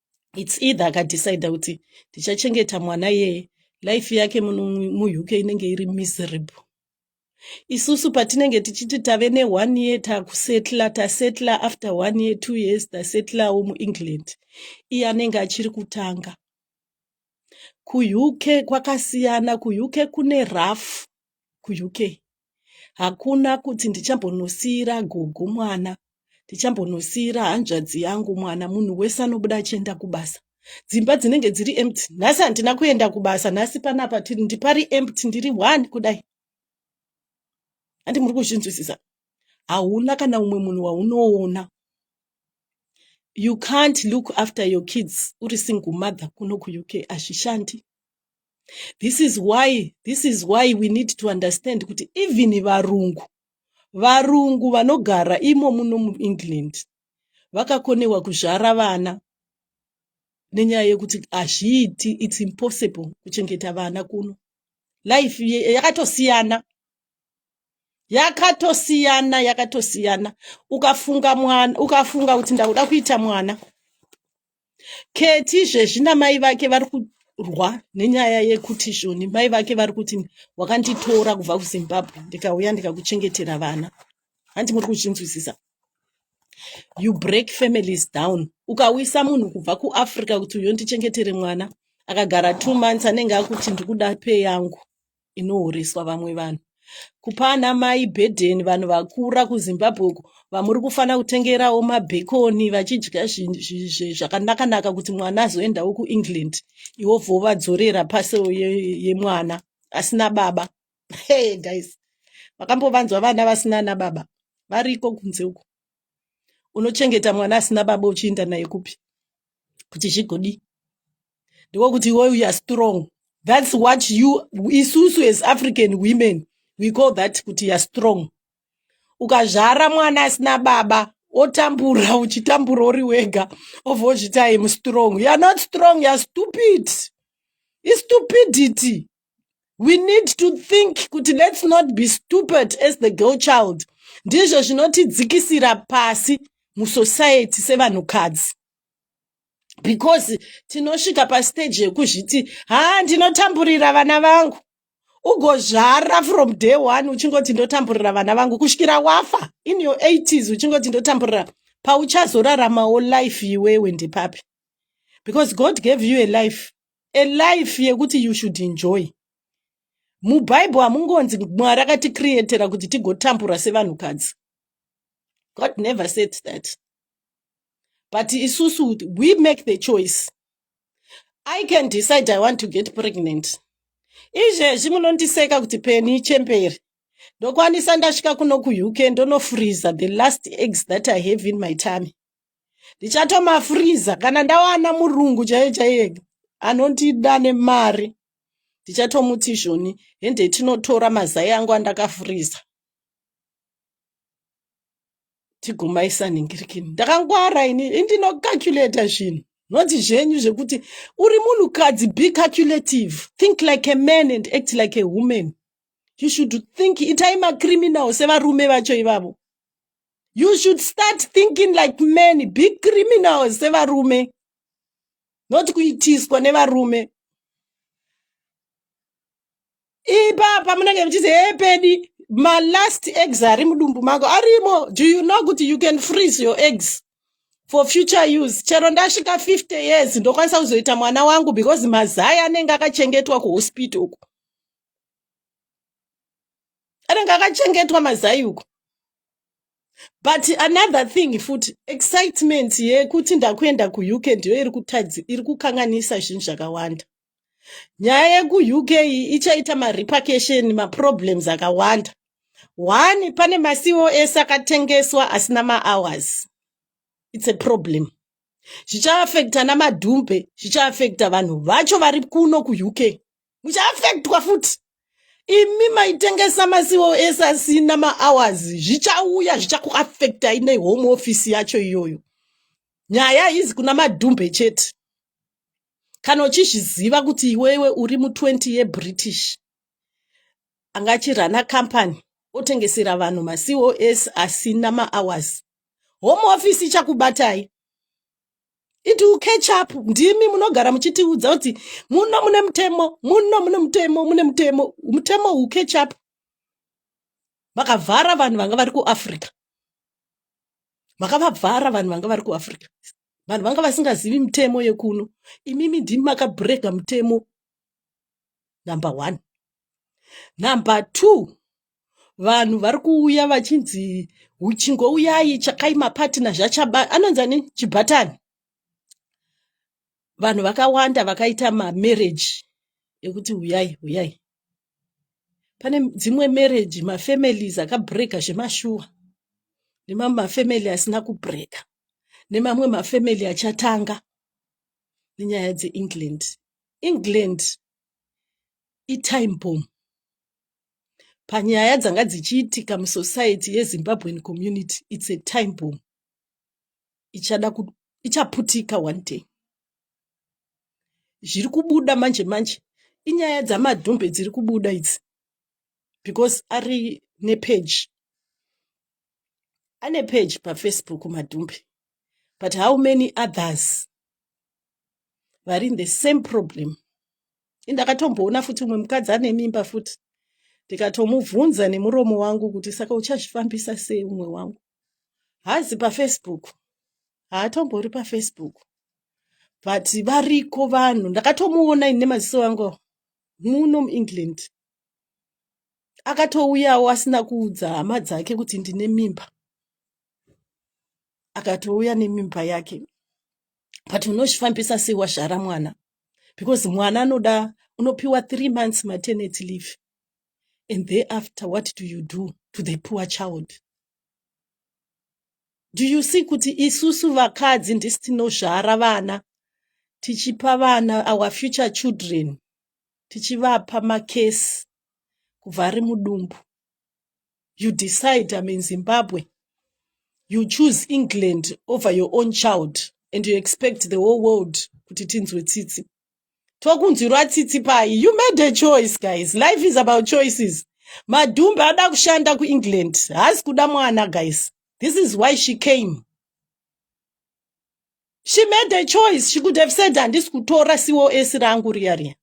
its either akadecide kuti tichachengeta mwana yeye life yake muuk inenge iri miserable isusu patinenge tichiti tave neone year takusetla tasetla after one year two years tasetlawo muengland iye anenge achiri kutanga kuuk kwakasiyana kuuk kune rough kuuk Hakuna kuti ndichambonosiira gogo mwana, ndichambonosiira hanzvadzi yangu mwana, munhu wese anobuda achienda kubasa. Dzimba dzinenge dziri empty. Nhasi handina kuenda kubasa, nhasi panapa tiri ndipari empty ndiri one kudai. Handi muri kuzvinzwisisa. Hauna kana umwe munhu waunoona. You can't look after your kids uri single mother kuno kuUK, hazvishandi. this is why this is why we need to understand kuti even varungu varungu vanogara imo muno muengland vakakonewa kuzvara vana nenyaya yekuti hazviiti its impossible kuchengeta vana kuno life yakatosiyana yakatosiyana yakatosiyana ukafunga mwana ukafunga kuti ndakuda kuita mwana Keti izvezvi namai vake vari kurwa nenyaya yekuti zvoni mai vake vari kuti wakanditora kubva kuzimbabwe ndikauya ndikakuchengetera vana hanti muri kuzvinzwisisa you break families down ukawisa munhu kubva kuafrica kuti uyondichengetere mwana akagara two months anenge akuti ndikuda pay yangu inohoreswa vamwe vanhu kupa ana mai burden vanhu vakura kuzimbabwe uko vamuri kufanira kutengerawo mabhekoni vachidya zvakanakanaka kuti mwana azoendawo kuengland iwo vovadzorera pasi yemwana asina baba hey guys vakambovanzwa vana vasina ana baba variko kunze uko unochengeta mwana asina baba uchiinda naye kupi kuti zvigodii ndiko kuti iwe uya strong that's what you isusu as african women we call that kuti ya strong ukazvara mwana asina baba otambura uchitambura uri wega obva ozviti im strong youare not strong youare stupid istupidity we need to think kuti let's not be stupid as the girl child ndizvo zvinotidzikisira pasi musociety sevanhukadzi because tinosvika pastage yekuzviti haa ndinotamburira vana vangu ugozvara from day one uchingoti ndotamburira vana vangu kusvikira wafa in your 80s uchingoti ndotamburira pauchazoraramawo life iwewe ndepapi because god gave you a life a life yekuti you should enjoy mubhaibheri hamungonzi mwari akatikrietera kuti tigotambura sevanhukadzi god never said that but isusu we make the choice i can decide i want to get pregnant izvezvi munondiseka kuti peni chemberi ndokwanisa ndasvika kuno kuuk ndonofreezer the last eggs that i have in my tamy ndichatomafriza kana ndawana murungu chaiye chaiye anondida nemari ndichatomuti izvoni hende tinotora mazai angu andakafriza tigomaisa nhingirikini ndakangwara ini indinocalculata zvinhu noti zvenyu zvekuti uri munhukadzi be calculative think like a man and act like a woman you should think itai macriminal sevarume vacho ivavo you should start thinking like men be criminal sevarume not kuitiswa nevarume ipapa munenge muchiti hepedi malast eggs ari mudumbu mako arimo do you know kuti you can freeze your eggs for future use chero ndasvika 50 years ndokwanisa kuzoita mwana wangu because mazai anenge akachengetwa kuhospital uku anenge akachengetwa mazai uko but another thing futi excitement yekuti ndakuenda kuuk ndiyo iri kutadzi iri kukanganisa zvinhu zvakawanda nyaya yekuuk ichaita marepercussion maproblems akawanda one pane macos akatengeswa asina mahours its a problem zvichaafekta namadhumbe zvichaafekta vanhu vacho vari kuno kuuk muchaafektwa futi imi maitengesa masiwo ese asina mahours zvichauya zvichakuafektai nehome office yacho iyoyo nyaya haizi kuna madhumbe chete kana uchizviziva kuti iwewe uri mu20 yebritish angachirana company otengesera vanhu macos asina mahours home office ichakubatai it will catch up ndimi munogara muchitiudza kuti muno mune mutemo muno mune mutemo mune mutemo mutemo will catch up makavhara vanhu vanga vari kuafrica makavavhara vanhu vanga vari kuafrica vanhu vanga vasingazivi mutemo yekuno imimi ndimi makabrega mutemo number one number two vanhu vari kuuya vachinzi uchingo uyai tsvakai mapatina zvachaba anonzi ani chibhatani vanhu vakawanda vakaita mamereji ekuti uyai uyai pane dzimwe mereji mafamilies akabreka zvemashuwa nemamwe mafamily asina kubreka nemamwe mafamily achatanga nenyaya dzeengland england itime bomb panyaya dzanga dzichiitika musociety yezimbabwean community its a time bomb ichada ichaputika one day zviri kubuda manje manje inyaya dzamadhumbe dziri kubuda idzi because ari nepeji ane peji pafacebook madhumbe but how many others vari in the same problem indakatomboona futi umwe mukadzi ane mimba futi ndikatomubvunza nemuromo wangu kuti saka uchazvifambisa sei umwe wangu haazi pafacebook haatombori pafacebook but variko vanhu ndakatomuona ini nemaziso angu muno muengland akatouyawo asina kuudza hama dzake kuti ndine mimba akatouya nemimba yake but unozvifambisa sei wazvara mwana because mwana anoda unopiwa three months maternity leave and thereafter what do you do to the poor child do you see kuti isusu vakadzi ndisi tinozvara vana tichipa vana our future children tichivapa makesi kubva ari mudumbu you decide I'm in Zimbabwe you choose England over your own child and you expect the whole world kuti tinzwe tsitsi tokunzwirwa tsitsi pai you made a choice guys life is about choices madhumbe ada kushanda kuengland haasi kuda mwana guys this is why she came she made a choice she could have said handisi kutora cos rangu riya riya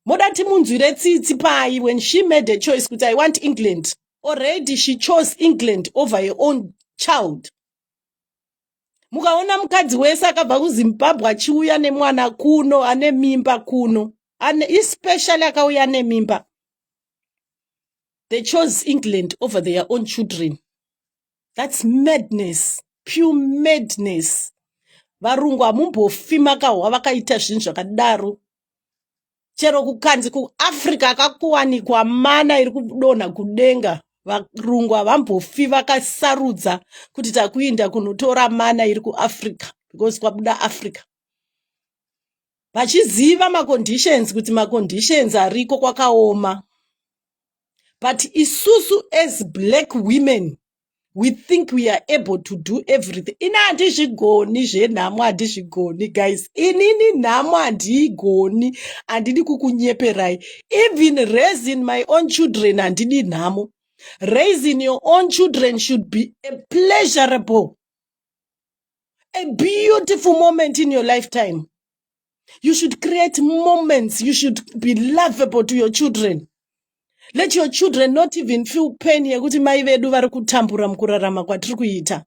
moda timunzwire tsitsi pai when she made a choice kuti i want england already she chose england over her own child mukaona mukadzi wese akabva kuzimbabwe achiuya nemwana kuno ane mimba kuno ane especially akauya nemimba they chose england over their own children that's madness pure madness varungu hamumbofi makahwa vakaita zvinhu zvakadaro chero kukanzi kuafrica akakuwanikwa mana iri kudonha kudenga varungu havambofi vakasarudza kuti takuinda kunotora mana iri kuafrica because kwabuda africa vachiziva maconditions kuti maconditions ariko kwakaoma but isusu as black women we think we are able to do everything ini handizvigoni zvenhamo handizvigoni guys inini nhamo handiigoni handidi kukunyeperai even raising my own children handidi nhamo raising your own children should be a pleasurable a beautiful moment in your lifetime you should create moments you should be lovable to your children let your children not even feel pain yekuti mai vedu vari kutambura mukurarama kwatiri kuita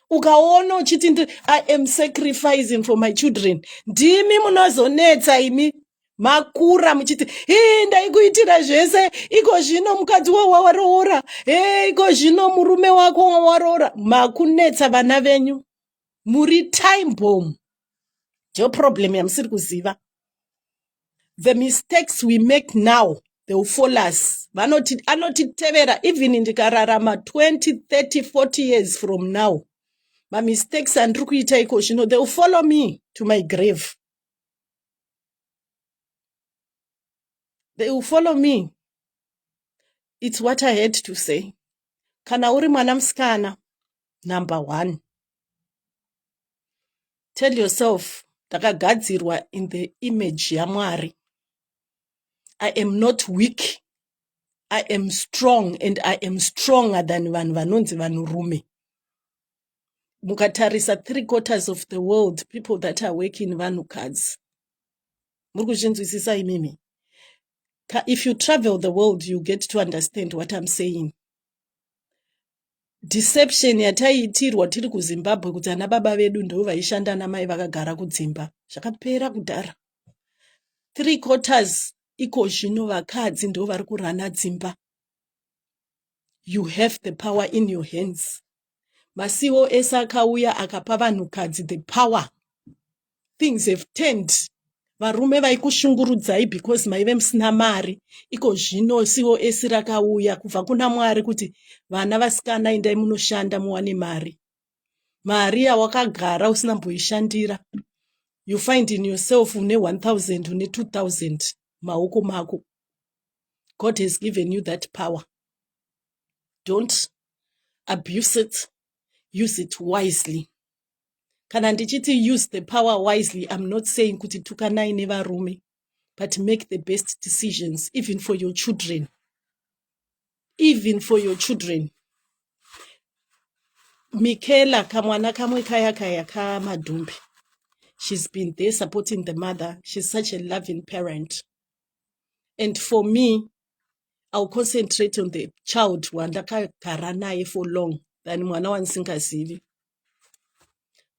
ukaona uchiti ndi i am sacrificing for my children ndimi munozonetsa imi makura muchiti hii ndaikuitira zvese iko zvino mukadzi wako wawaroora he iko zvino murume wako wawaroora makunetsa vana venyu muri time bomb ndiyo problem yamusiri kuziva the mistakes we make now they will follow us vanoti anotitevera even ndikararama 20 30 40 years from now mamistakes andiri kuita iko zvino they will follow me to my grave they will follow me it's what i had to say kana uri mwana musikana number one tell yourself ndakagadzirwa in the image yamwari i am not weak i am strong and i am stronger than vanhu vanonzi vanhurume mukatarisa three quarters of the world people that are working vanhukadzi muri kuzvinzwisisa imimi if you travel the world you get to understand what i'm saying deception yataiitirwa tiri kuzimbabwe kuti ana baba vedu ndo vaishanda ana mai vakagara kudzimba zvakapera kudhara three quarters iko zvino vakadzi ndo vari kurana dzimba you have the power in your hands masiwo ese akauya akapa vanhukadzi the power things have turned varume vaikushungurudzai because maive musina mari iko zvino cos rakauya kubva kuna mwari kuti vana vasikana endai munoshanda muwane mari mari yawakagara usina mboishandira you find in yourself une 1000 une 2000 maoko mako god has given you that power don't abuse it use it wisely kana ndichiti use the power wisely im not saying kuti tukanai nevarume but make the best decisions even for your children even for your children mikela kamwana kamwe kaya kaya kamadhumbi she's been there supporting the mother she's such a loving parent and for me iwill concentrate on the child wandakagara naye for long than mwana wandisingazivi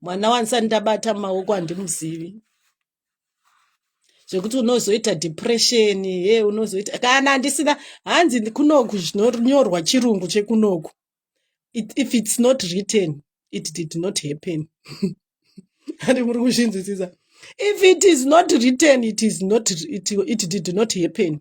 mwana wanisani ndabata maoko handimuzivi zvekuti unozoita depression ye unozoita kana handisina hanzi kunoku zvinonyorwa chirungu chekunoku if it's not written it did not happen ati muri kuzvinzwisisa if it is not written it is not it, it did not happen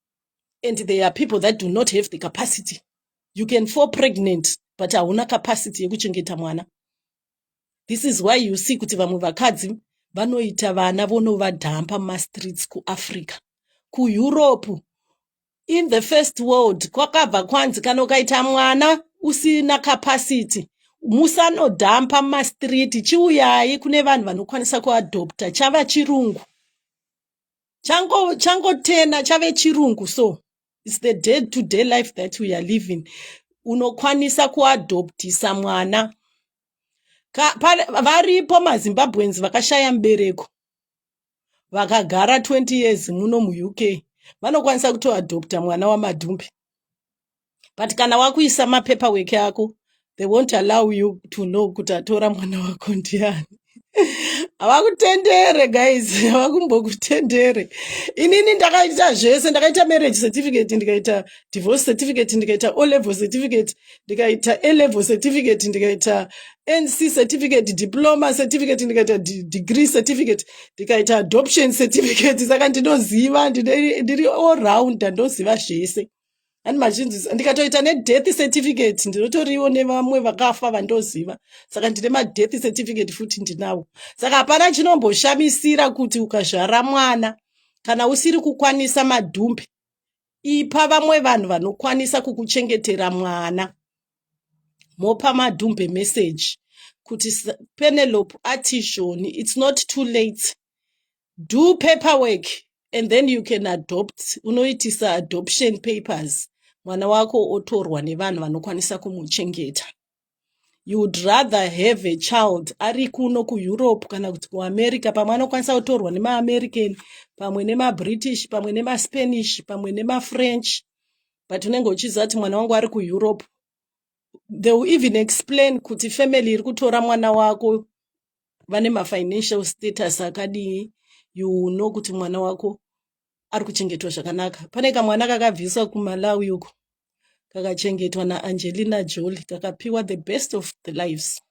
and there are people that do not have the capacity you can fall pregnant but hauna capacity yekuchengeta mwana this is why you see kuti vamwe vakadzi vanoita vana vonovadhampa mumastreets kuafrica kueurope in the first world kwakabva kwanzi kana ukaita mwana usina capacity musanodhampa mumastreet chiuyai kune vanhu vanokwanisa kuadopta chava chirungu chango chango tena chave chirungu so it's the day to day life that we are living unokwanisa kuadoptisa mwana Ka, pa, varipo mazimbabweans vakashaya mubereko vakagara 20 years muno muuk vanokwanisa kutoadopta mwana wamadhumbi but kana wakuisa mapepa weke ako they won't allow you to know kuti atora mwana wako ndiani havakutendere guys havakumbokutendere inini ndakaita zvese ndakaita marriage certificate ndikaita divorce certificate ndikaita o level certificate ndikaita a level certificate ndikaita nc certificate diploma certificate ndikaita degree certificate ndikaita adoption certificate saka ndinoziva ndiri all round ndoziva zvese and machinzi ndikatoita nedeath certificate ndinotoriwo nevamwe vakafa vandoziva saka ndine madeath certificate futi ndinawo saka hapana chinomboshamisira kuti ukazvara mwana kana usiri kukwanisa madhumbe ipa vamwe vanhu vanokwanisa kukuchengetera mwana mopa madhumbe message kuti penelope atishoni its not too late do paperwork and then you can adopt unoitisa adoption papers mwana wako otorwa nevanhu vanokwanisa kumuchengeta you would rather have a child ari kuno kueurope kana kuti kuamerica pamwe anokwanisa kutorwa nemaamerican pamwe nemabritish pamwe nemaspanish pamwe nemafrench but unenge uchiziva kuti mwana wangu ari kueurope they will even explain kuti family iri kutora mwana wako vane mafinancial status akadii you will know kuti mwana wako ari kuchengetwa zvakanaka pane kamwana kakabviswa kumalawi uko kakachengetwa naangelina joli kakapiwa the best of the lives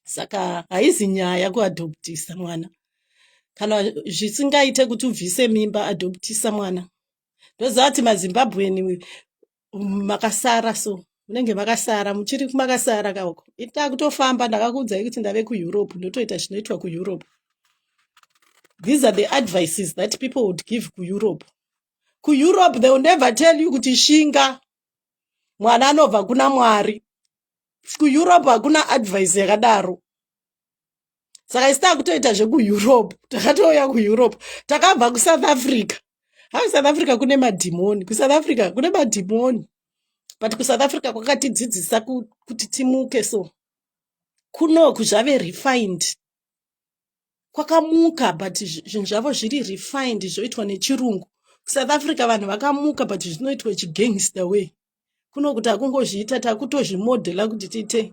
saka haizi nyaya kuadoptisa mwana kana zvisingaite kuti ubvise mimba adoptisa mwana ndoziva kuti mazimbabweni makasara so munenge makasara muchiri makasara kauko takutofamba ndakakuudzai kuti ndave kueurope ndotoita zvinoitwa kueurope these are the advices that people would give kueurope kueurope they will never tell you kuti shinga mwana anobva kuna mwari kueurope hakuna advice yakadaro saka isi takutoita zvekueurope takatouya kueurope takabva kusouth africa ha kusouth africa kune madhimoni kusouth africa kune madhimoni but kusouth africa kwakatidzidzisa kuti timuke so kunoku zvave refined kwakamuka but zvinhu zvavo zviri refined zvoitwa nechirungu kusouth africa vanhu vakamuka but zvinoitwa chigangster way kunokuti akungozviita takutozvimodhela kuti tiite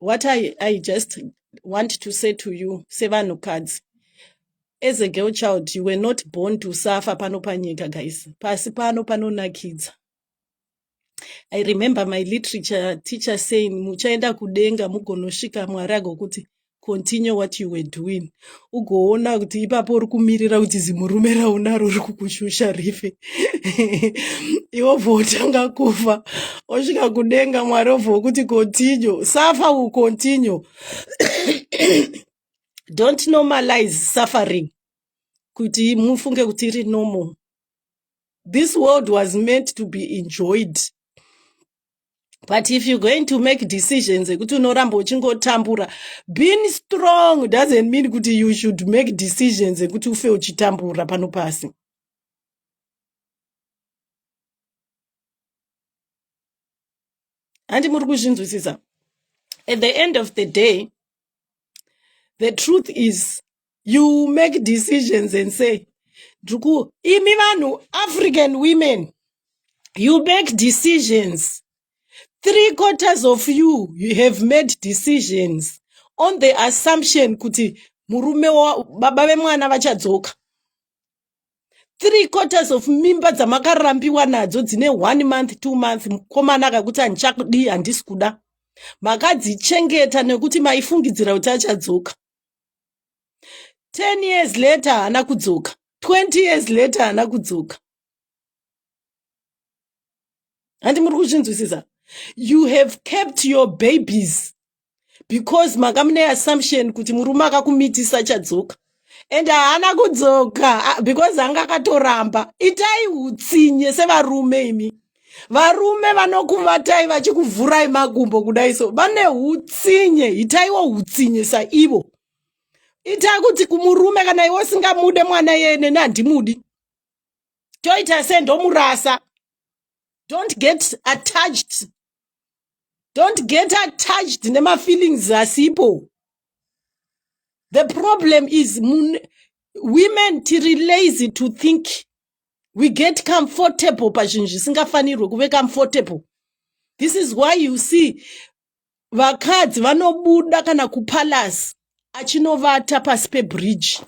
what I, I just want to say to you sevanhukadzi as a girl child you were not born to suffer pano panyika guys pasi pano panonakidza i remember my literature teacher saying muchaenda kudenga mugonosvika mwari agokuti continue what you were doing ugoona kuti ipapo uri kumirira kuti zimurume raunaro uri kukushusha rife iwo bvotanga kufa osvika kudenga mwari obva wokuti continue suffer will continue don't normalize suffering kuti mufunge kuti iri normal this world was meant to be enjoyed but if you're going to make decisions ekuti unoramba uchingotambura being strong doesn't mean kuti you should make decisions ekuti ufe uchitambura pano pasi handi muri kuzvinzwisisa at the end of the day the truth is you make decisions and say ndriku imi vanhu african women you make decisions three quarters of you you have made decisions on the assumption kuti murume baba vemwana vachadzoka three quarters of mimba dzamakarambiwa nadzo dzine one month two month mukomana akakuti handichakudii handisi kuda makadzichengeta nekuti maifungidzira kuti achadzoka 10 years later haana kudzoka 20 years later haana kudzoka handi muri kuzvinzwisisa you have kept your babies because manga mune assumption kuti murume akakumitisa chadzoka and haana kudzoka because anga akatoramba itai utsinye sevarume imi varume vanokuvatai vachikuvhurai makumbo kudai so vane utsinye itaiwo utsinye saivo itai kuti kumurume kana iwe usingamude mwana yeye neni handimudi toita se ndomurasa don't get attached don't get attached nemafeelings asipo the problem is women tiri lazy to think we get comfortable pazvinhu zvisingafanirwe kuve comfortable this is why you see vakadzi vanobuda kana kupalace achinovata pasi pebridge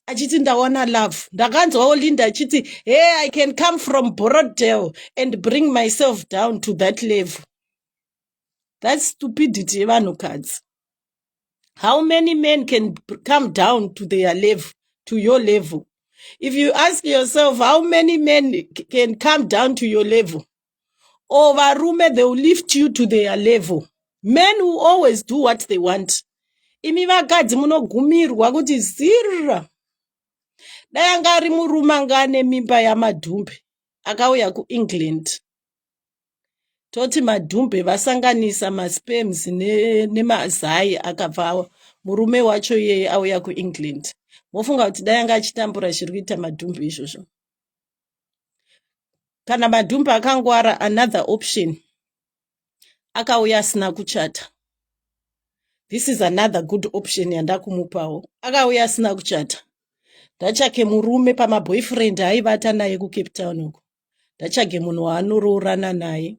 achiti ndawana love ndakanzwawo linda achiti hey i can come from borodale and bring myself down to that level that stupidity yevanhukadzi how many men can come down to their level to your level if you ask yourself how many men can come down to your level or varume they will lift you to their level men will always do what they want imi vakadzi munogumirwa kuti zirra dai anga ari murume anga ane mimba yamadhumbe akauya kuengland toti madhumbe vasanganisa masperms nemazai ne akabva murume wacho iyeye auya kuengland mofunga kuti dai anga achitambura zviri kuita madhumbe izvozvo kana madhumbe akangwara another option akauya asina kuchata this is another good option yandakumupawo akauya asina kuchata ndachake murume pamaboyfriend aivata naye kucape town uko ndatsvage munhu waanoroorana naye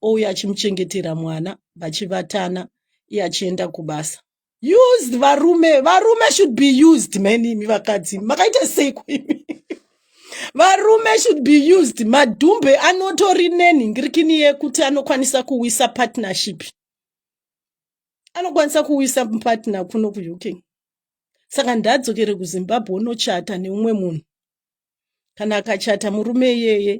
ouya achimuchengetera mwana vachivatana iye achienda kubasa used varume varume should be used mani imi vakadzi makaita seiko imi varume should be used madhumbe anotori nenhingirikini yekuti anokwanisa kuwisa partnership anokwanisa kuwisa partner kuno kuuk saka ndadzokere kuzimbabwe unochata neumwe munhu kana akachata murume iyeye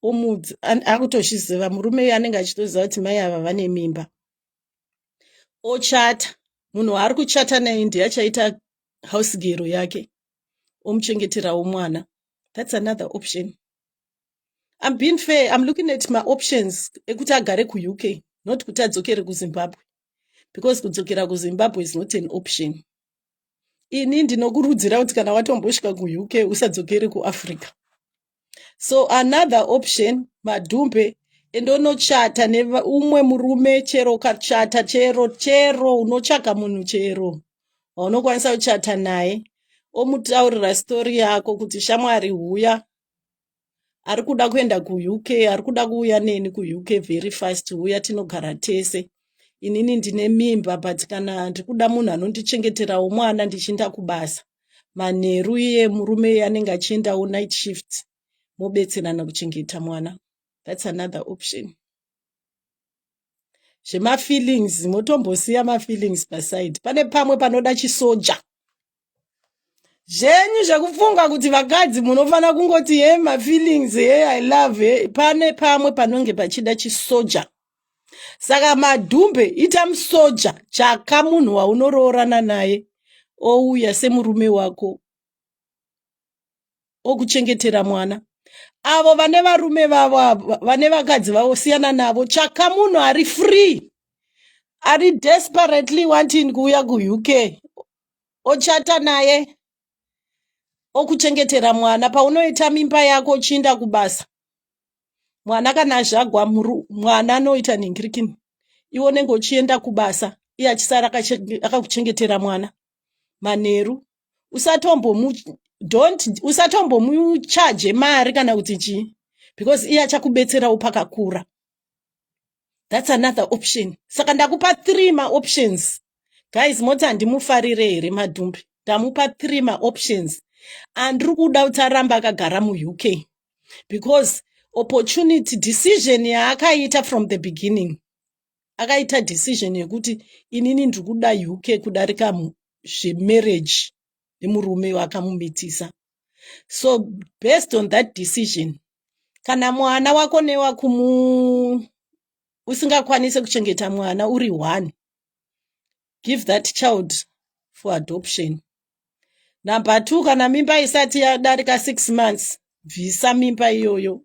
omudzi akutozviziva murume iye anenge achitoziva kuti mai ava vane mimba ochata munhu waari kuchata naye ndiye achaita house gero yake omuchengeterawo mwana thats another option im being fair im looking at maoptions ekuti agare kuuk not kuti adzokere kuzimbabwe because kudzokera kuzimbabwe is not an option ini ndinokurudzira kuti kana watombosvika kuuk usadzokere kuafrica so another option madhumbe ende unochata neumwe murume chero ukachata chero chero unotsvaga munhu chero waunokwanisa kuchata naye omutaurira stori yako kuti shamwari huya ari kuda kuenda kuuk ari kuda kuuya neni kuuk very fast uya tinogara tese inini ndine mimba but kana ndiri kuda munhu anondichengeterawo mwana ndichiinda kubasa manheru iye murume iye anenge achiendawo night shift mobetserana kuchengeta mwana thats another option zvemafeelings motombosiya mafeelings paside pane pamwe panoda chisoja zvenyu zvekufunga kuti vakadzi munofanira kungoti he mafeelings he i love he pane pamwe panonge pachida chisoja saka madhumbe ita musoja tsvaka munhu waunoroorana naye ouya semurume wako okuchengetera mwana avo vane varume vavo avo vane vakadzi vavo siyana navo tsvaka munhu ari free ari desperately wanting kuuya kuuk ochata naye okuchengetera mwana paunoita mimba yako uchiinda kubasa mwana kana azvagwa mwana anoita nhingirikini iwe unenge uchienda kubasa iye achisara akakuchengetera mwana manheru usatombomu don't usatombomuchaje mari kana kuti chii because iye achakubetserawo pakakura that's another option saka ndakupa three maoptions guys moti handimufarire here madhumbi ndamupa three maoptions andiri kuda kuti aramba akagara muuk because opportunity decision yaakaita from the beginning akaita decision yekuti inini ndiri kuda uk kudarika zvemarriage nemurume akamumitisa so based on that decision kana mwana wako newakumu usingakwanise kuchengeta mwana uri one give that child for adoption number two kana mimba isati yadarika six months bvisa mimba iyoyo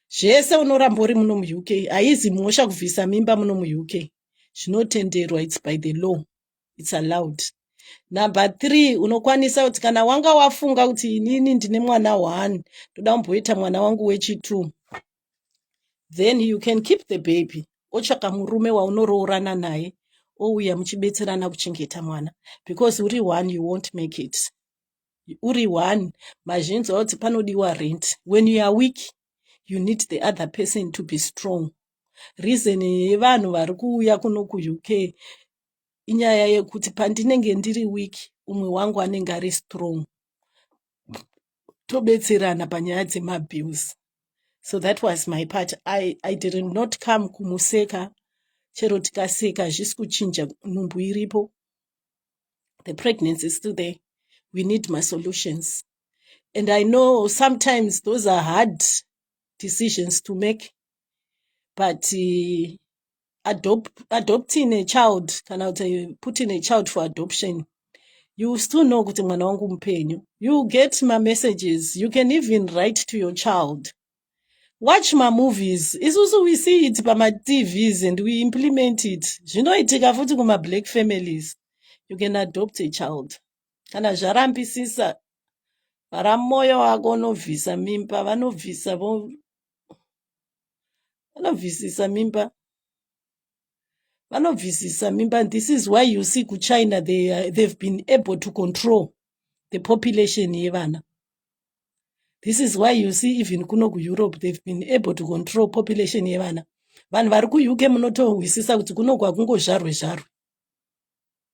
zvese unoramba uri muno muuk haizi mhosva kubvisa mimba muno muuk zvinotenderwa its by the law its allowed number three unokwanisa kuti kana wanga wafunga kuti inini ndine mwana one ndoda kumboita mwana wangu wechitwo then you can keep the baby otsvaka murume waunoroorana naye ouya muchibetserana kuchengeta mwana because uri one you won't make it uri one mazhinji auti panodiwa rent when you are weak you need the other person to be strong reason yevanhu vari kuuya kuno kuuk inyaya yekuti pandinenge ndiri weak umwe wangu anenge ari strong tobetserana panyaya dzemabills so that was my part i, I did not come kumuseka chero tikaseka hazvisi kuchinja nhumbu iripo the pregnancy is still there we need masolutions and i know sometimes those are hard decisions to make but uh, adopt, adopting a child kana kuti putting a child for adoption you still know kuti mwana wangu mupenyu you get mamessages you can even write to your child watch mamovies isusu we see it pamatvs and we implement it zvinoitika futi kumablack families you can adopt a child kana zvarampisisa vara mwoyo wako unobvisa mimba vanobvisa vanobvisisa mimba vanobvisisa mimba and this is why you see kuchina they, uh, they've been able to control the population yevana this is why you see even kuno kueurope they've been able to control population yevana vanhu vari kuuk munotohwisisa kuti kuno kwakungozvarwe zvarwe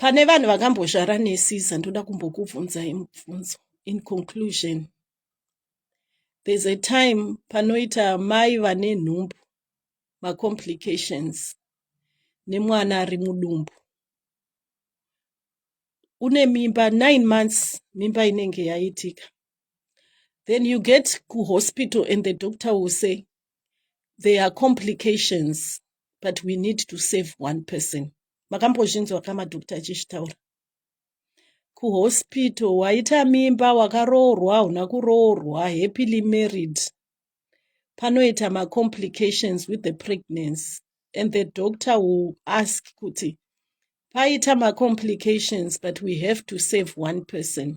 pane vanhu vakambozvara nesiza ndoda kumbokubvunzai mubvunzo in conclusion there's a time panoita mai vane nhumbu macomplications nemwana ari mudumbu une mimba nine months mimba inenge yaitika then you get kuhospital and the doctor will say there are complications but we need to save one person makambozvinzwa ka madhokita achizvitaura kuhospital waita mimba wakaroorwa hauna kuroorwa happily married panoita macomplications with the pregnancy and the doctor will ask kuti paita macomplications but we have to save one person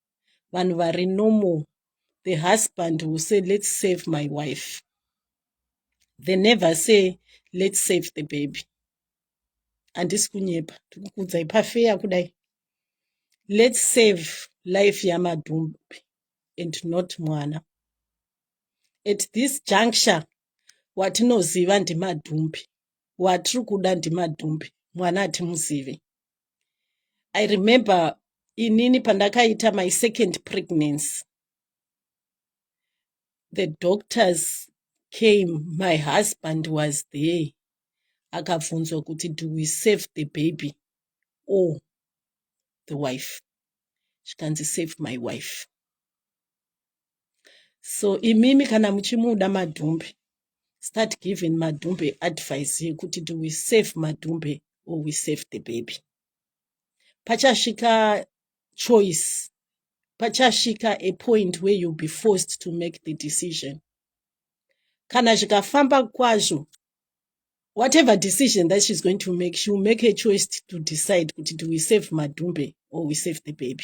vanhu vari normal the husband will say let's save my wife they never say let's save the baby handisi kunyepa ndikukudzai pafeya kudai let's save life yamadhumbi and not mwana at this juncture watinoziva ndimadhumbi watiri kuda ndimadhumbi mwana hatimuzivi i remember inini pandakaita my second pregnancy the doctors came my husband was there akabvunzwa kuti do we save the baby or the wife zvikanzi save my wife so imimi kana muchimuda madhumbe start giving madhumbe advice yekuti do we save madhumbe or we save the baby pachasvika choice pachasvika a point where you'll be forced to make the decision kana zvikafamba kwazvo whatever decision that she's going to make she will make a choice to decide kuti do we save madhumbe or we save the baby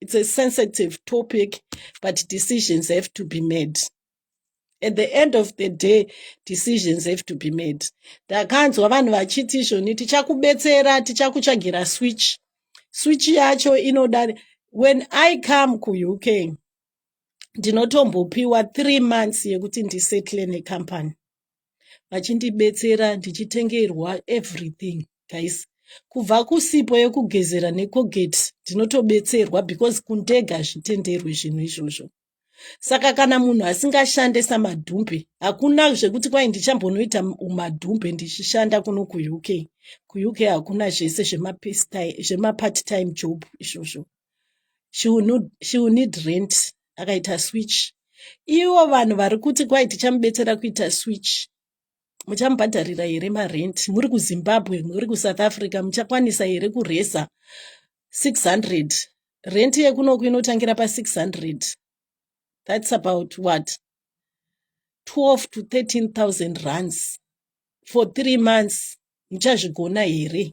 it's a sensitive topic but decisions have to be made at the end of the day decisions have to be made ndakanzwa vanhu vachiti izvoni tichakubetsera tichakutsvagira switch switch yacho inoda when i come kuuk ndinotombopiwa three months yekuti ndisettle necompany vachindibetsera ndichitengerwa everything guys kubva kusipo yekugezera nekogeti ndinotobetserwa because kundega hazvitenderwi zvinhu izvozvo saka kana munhu asingashande samadhumbe hakuna zvekuti kwai ndichambonoita umadhumbe ndichishanda kuno kuuk kuuk hakuna zvese zvemapart time job izvozvo she will need rent akaita switch ivo vanhu vari kuti kwai tichamubetsera kuita switch muchamubhadharira here marent muri kuzimbabwe muri kusouth africa muchakwanisa here kureza 600 rent yekunoku inotangira pa 600 that's about what 12 to 13 000 runs for three months muchazvigona here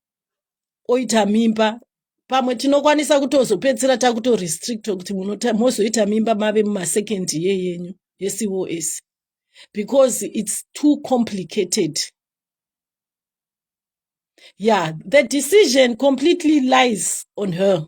oita mimba pamwe tinokwanisa kutozopedzisira takutorestrictwa kuti mozoita mimba mave mumasecond ye yenyu yecos because its too complicated yeah the decision completely lies on her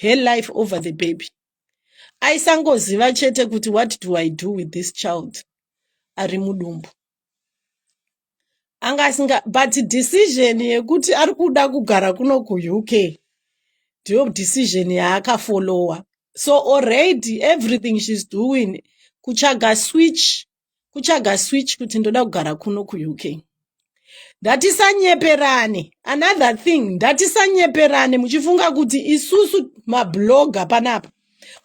her life over the baby aisangoziva chete kuti what do i do with this child ari mudumbu anga asinga but decision yekuti ari kuda kugara kuno kuuk ndiyo decision yaakafollowa so already everything she's doing kutsvaga switch kutsvaga switch kuti ndoda kugara kuno kuuk ndatisanyeperane another thing ndatisanyeperane muchifunga kuti isusu mabloga panapa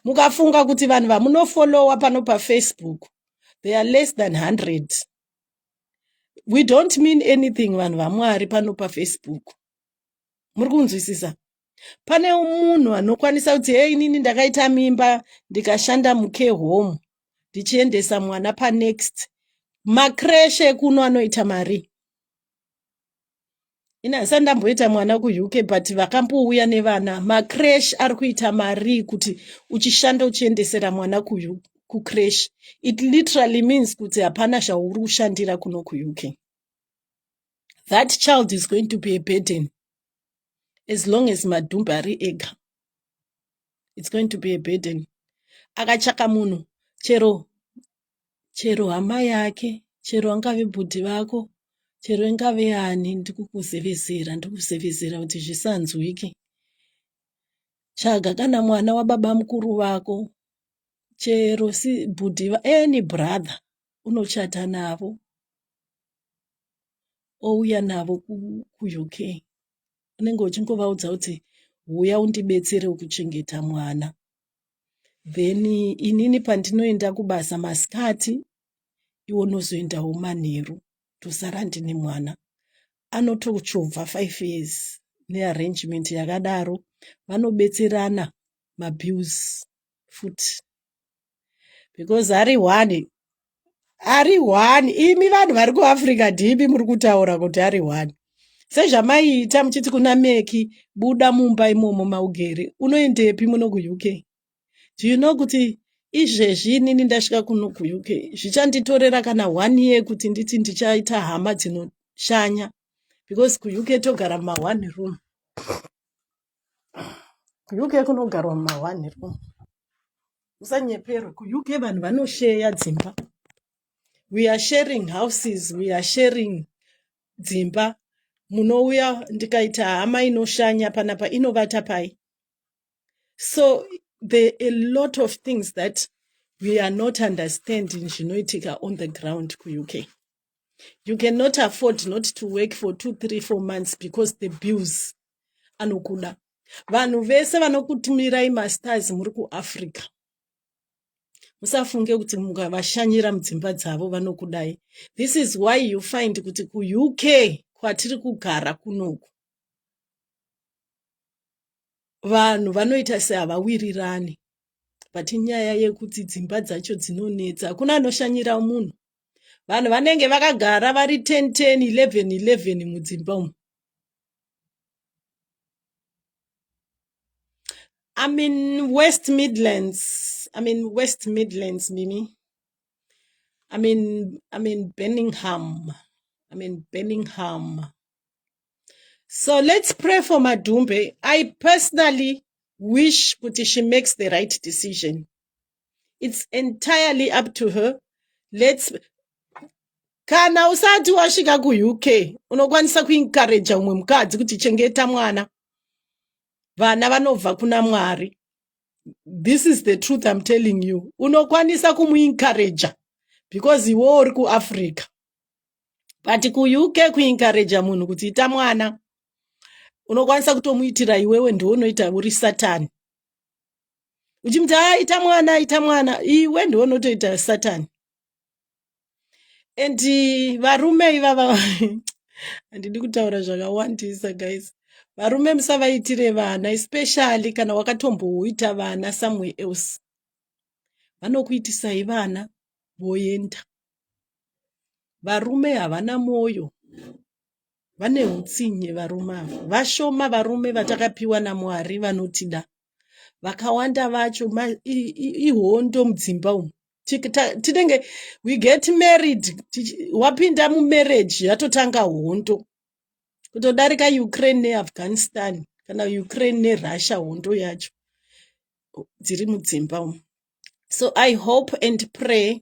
mukafunga kuti vanhu vamunofolowa pano pafacebook they are less than 100 we don't mean anything vanhu vamwari pano pafacebook muri kunzwisisa pane munhu anokwanisa kuti hei inini ndakaita mimba ndikashanda mucare home ndichiendesa mwana panext makreshe kuno anoita mari ini handisati ndamboita mwana kuuk but vakambouya nevana macresh ari kuita mari kuti uchishanda uchiendesera mwana kucresh it literally means kuti hapana zvauri kushandira kuno kuuk that child is going to be a burden as long as madhumbe ari ega its going to be a burden akatsvaka munhu chero chero hama yake chero angave bhudhi vako chero ingave yani ndikukuzevezera ndikuzevezera kuti zvisanzwike tsvaga kana mwana wababa mukuru vako chero si bhudhi any brother unochata navo ouya navo kuUK unenge uchingovaudza kuti huya undibetsere kuchengeta mwana then inini pandinoenda kubasa masikati iwo unozoendawo manheru tosara ndine mwana anotochovha five years nearrangement yakadaro vanobetserana mabills futi because ari one ari one imi vanhu vari kuafrica dhibi muri kutaura kuti ari one sezvamaiita muchiti kuna meki buda mumba imomo maugere unoendepi muno kuuk do you know kuti izvezvi inini ndasvika kuno kuuk zvichanditorera kana one year kuti nditi ndichaita hama dzinoshanya because kuuk togara muma one room kuuk kunogarwa mumahwanhi ro musanyeperwe kuuk vanhu vanosheya dzimba we are sharing houses we are sharing dzimba munouya ndikaita hama inoshanya panapa inovata pai so there a lot of things that we are not understanding zvinoitika on the ground kuuk you cannot afford not to work for two three four months because the bills anokuda vanhu vese vanokutumirai masters muri kuafrica musafunge kuti mukavashanyira mudzimba dzavo vanokudai this is why you find kuti kuuk kwatiri kugara kunoku vanhu vanoita sehavawirirani but inyaya yekuti dzimba dzacho dzinonetsa hakuna anoshanyira munhu vanhu vanenge vakagara vari 10 10 11 11 mudzimba umu I'm in West Midlands. I'm in West Midlands, Mimi. I'm in I'm in Birmingham. I'm in Birmingham. So let's pray for Madumbe. I personally wish Kuti she makes the right decision. it's entirely up to her let's kana usati wasvika kuuk unokwanisa kuinkareja umwe mukadzi kuti chengeta mwana vana vanobva kuna mwari this is the truth im telling you unokwanisa kumuinkareja because iwo uri kuafrica but kuuk kuinkareja munhu kuti ita mwana unokwanisa kutomuitira iwewe ndiwo unoita uri satani uchimuti haa ita mwana ita mwana iwe ndiwe unotoita satani and varume ivava handidi kutaura zvakawandisa guys varume musavaitire vana especially kana wakatomboita vana somewhere else vanokuitisai vana voenda varume havana mwoyo vane utsinye varume ava vashoma varume vatakapiwa namwari vanotida vakawanda vacho ihondo mudzimba umu tinenge we get married wapinda mumarriage yatotanga hondo kutodarika ukraine neafghanistan kana ukraine nerussia hondo yacho dziri mudzimba umu so i hope and pray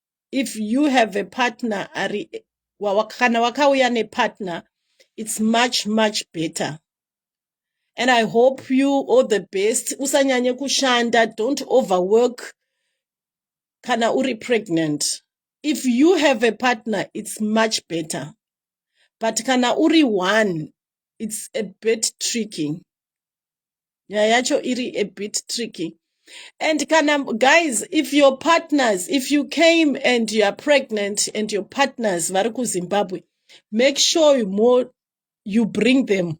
if you have a partner ari kana wakauya nepartner it's much much better and i hope you all the best usanyanye kushanda don't overwork kana uri pregnant if you have a partner it's much better but kana uri one it's a bit tricky nyaya yacho iri a bit tricky and kana guys if your partners if you came and you are pregnant and your partners vari kuzimbabwe make sure you, more, you bring them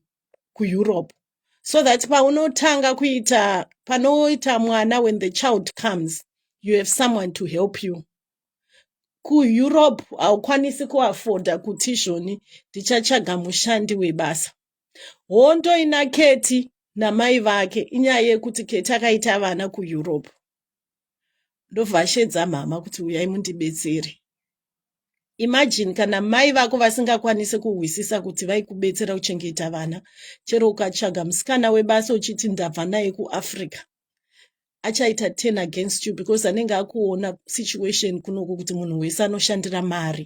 kueurope so that paunotanga kuita panoita mwana when the child comes you have someone to help you kueurope haukwanisi kuafoda kuti izvoni ndichatsvaga mushandi webasa hondo ina keti namai vake inyaya yekuti keti akaita vana kueurope ndobva ashedza mhama kuti uyai mundibetsere imagine kana mai vako vasingakwanise kuhwisisa kuti vaikubetsera kuchengeta vana chero ukatsvaga musikana webasa uchiti ndabva naye kuafrica achaita ten against you because anenge akuona situation kunoku kuti munhu wese anoshandira mari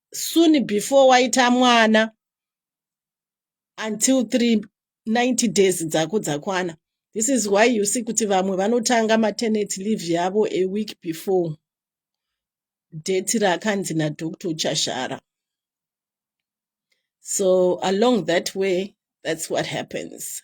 soon before waita mwana until 3 90 days dzako dzakwana this is why you see kuti vamwe vanotanga matenant leave yavo a week before date raakanzi nadoctor chashara so along that way that's what happens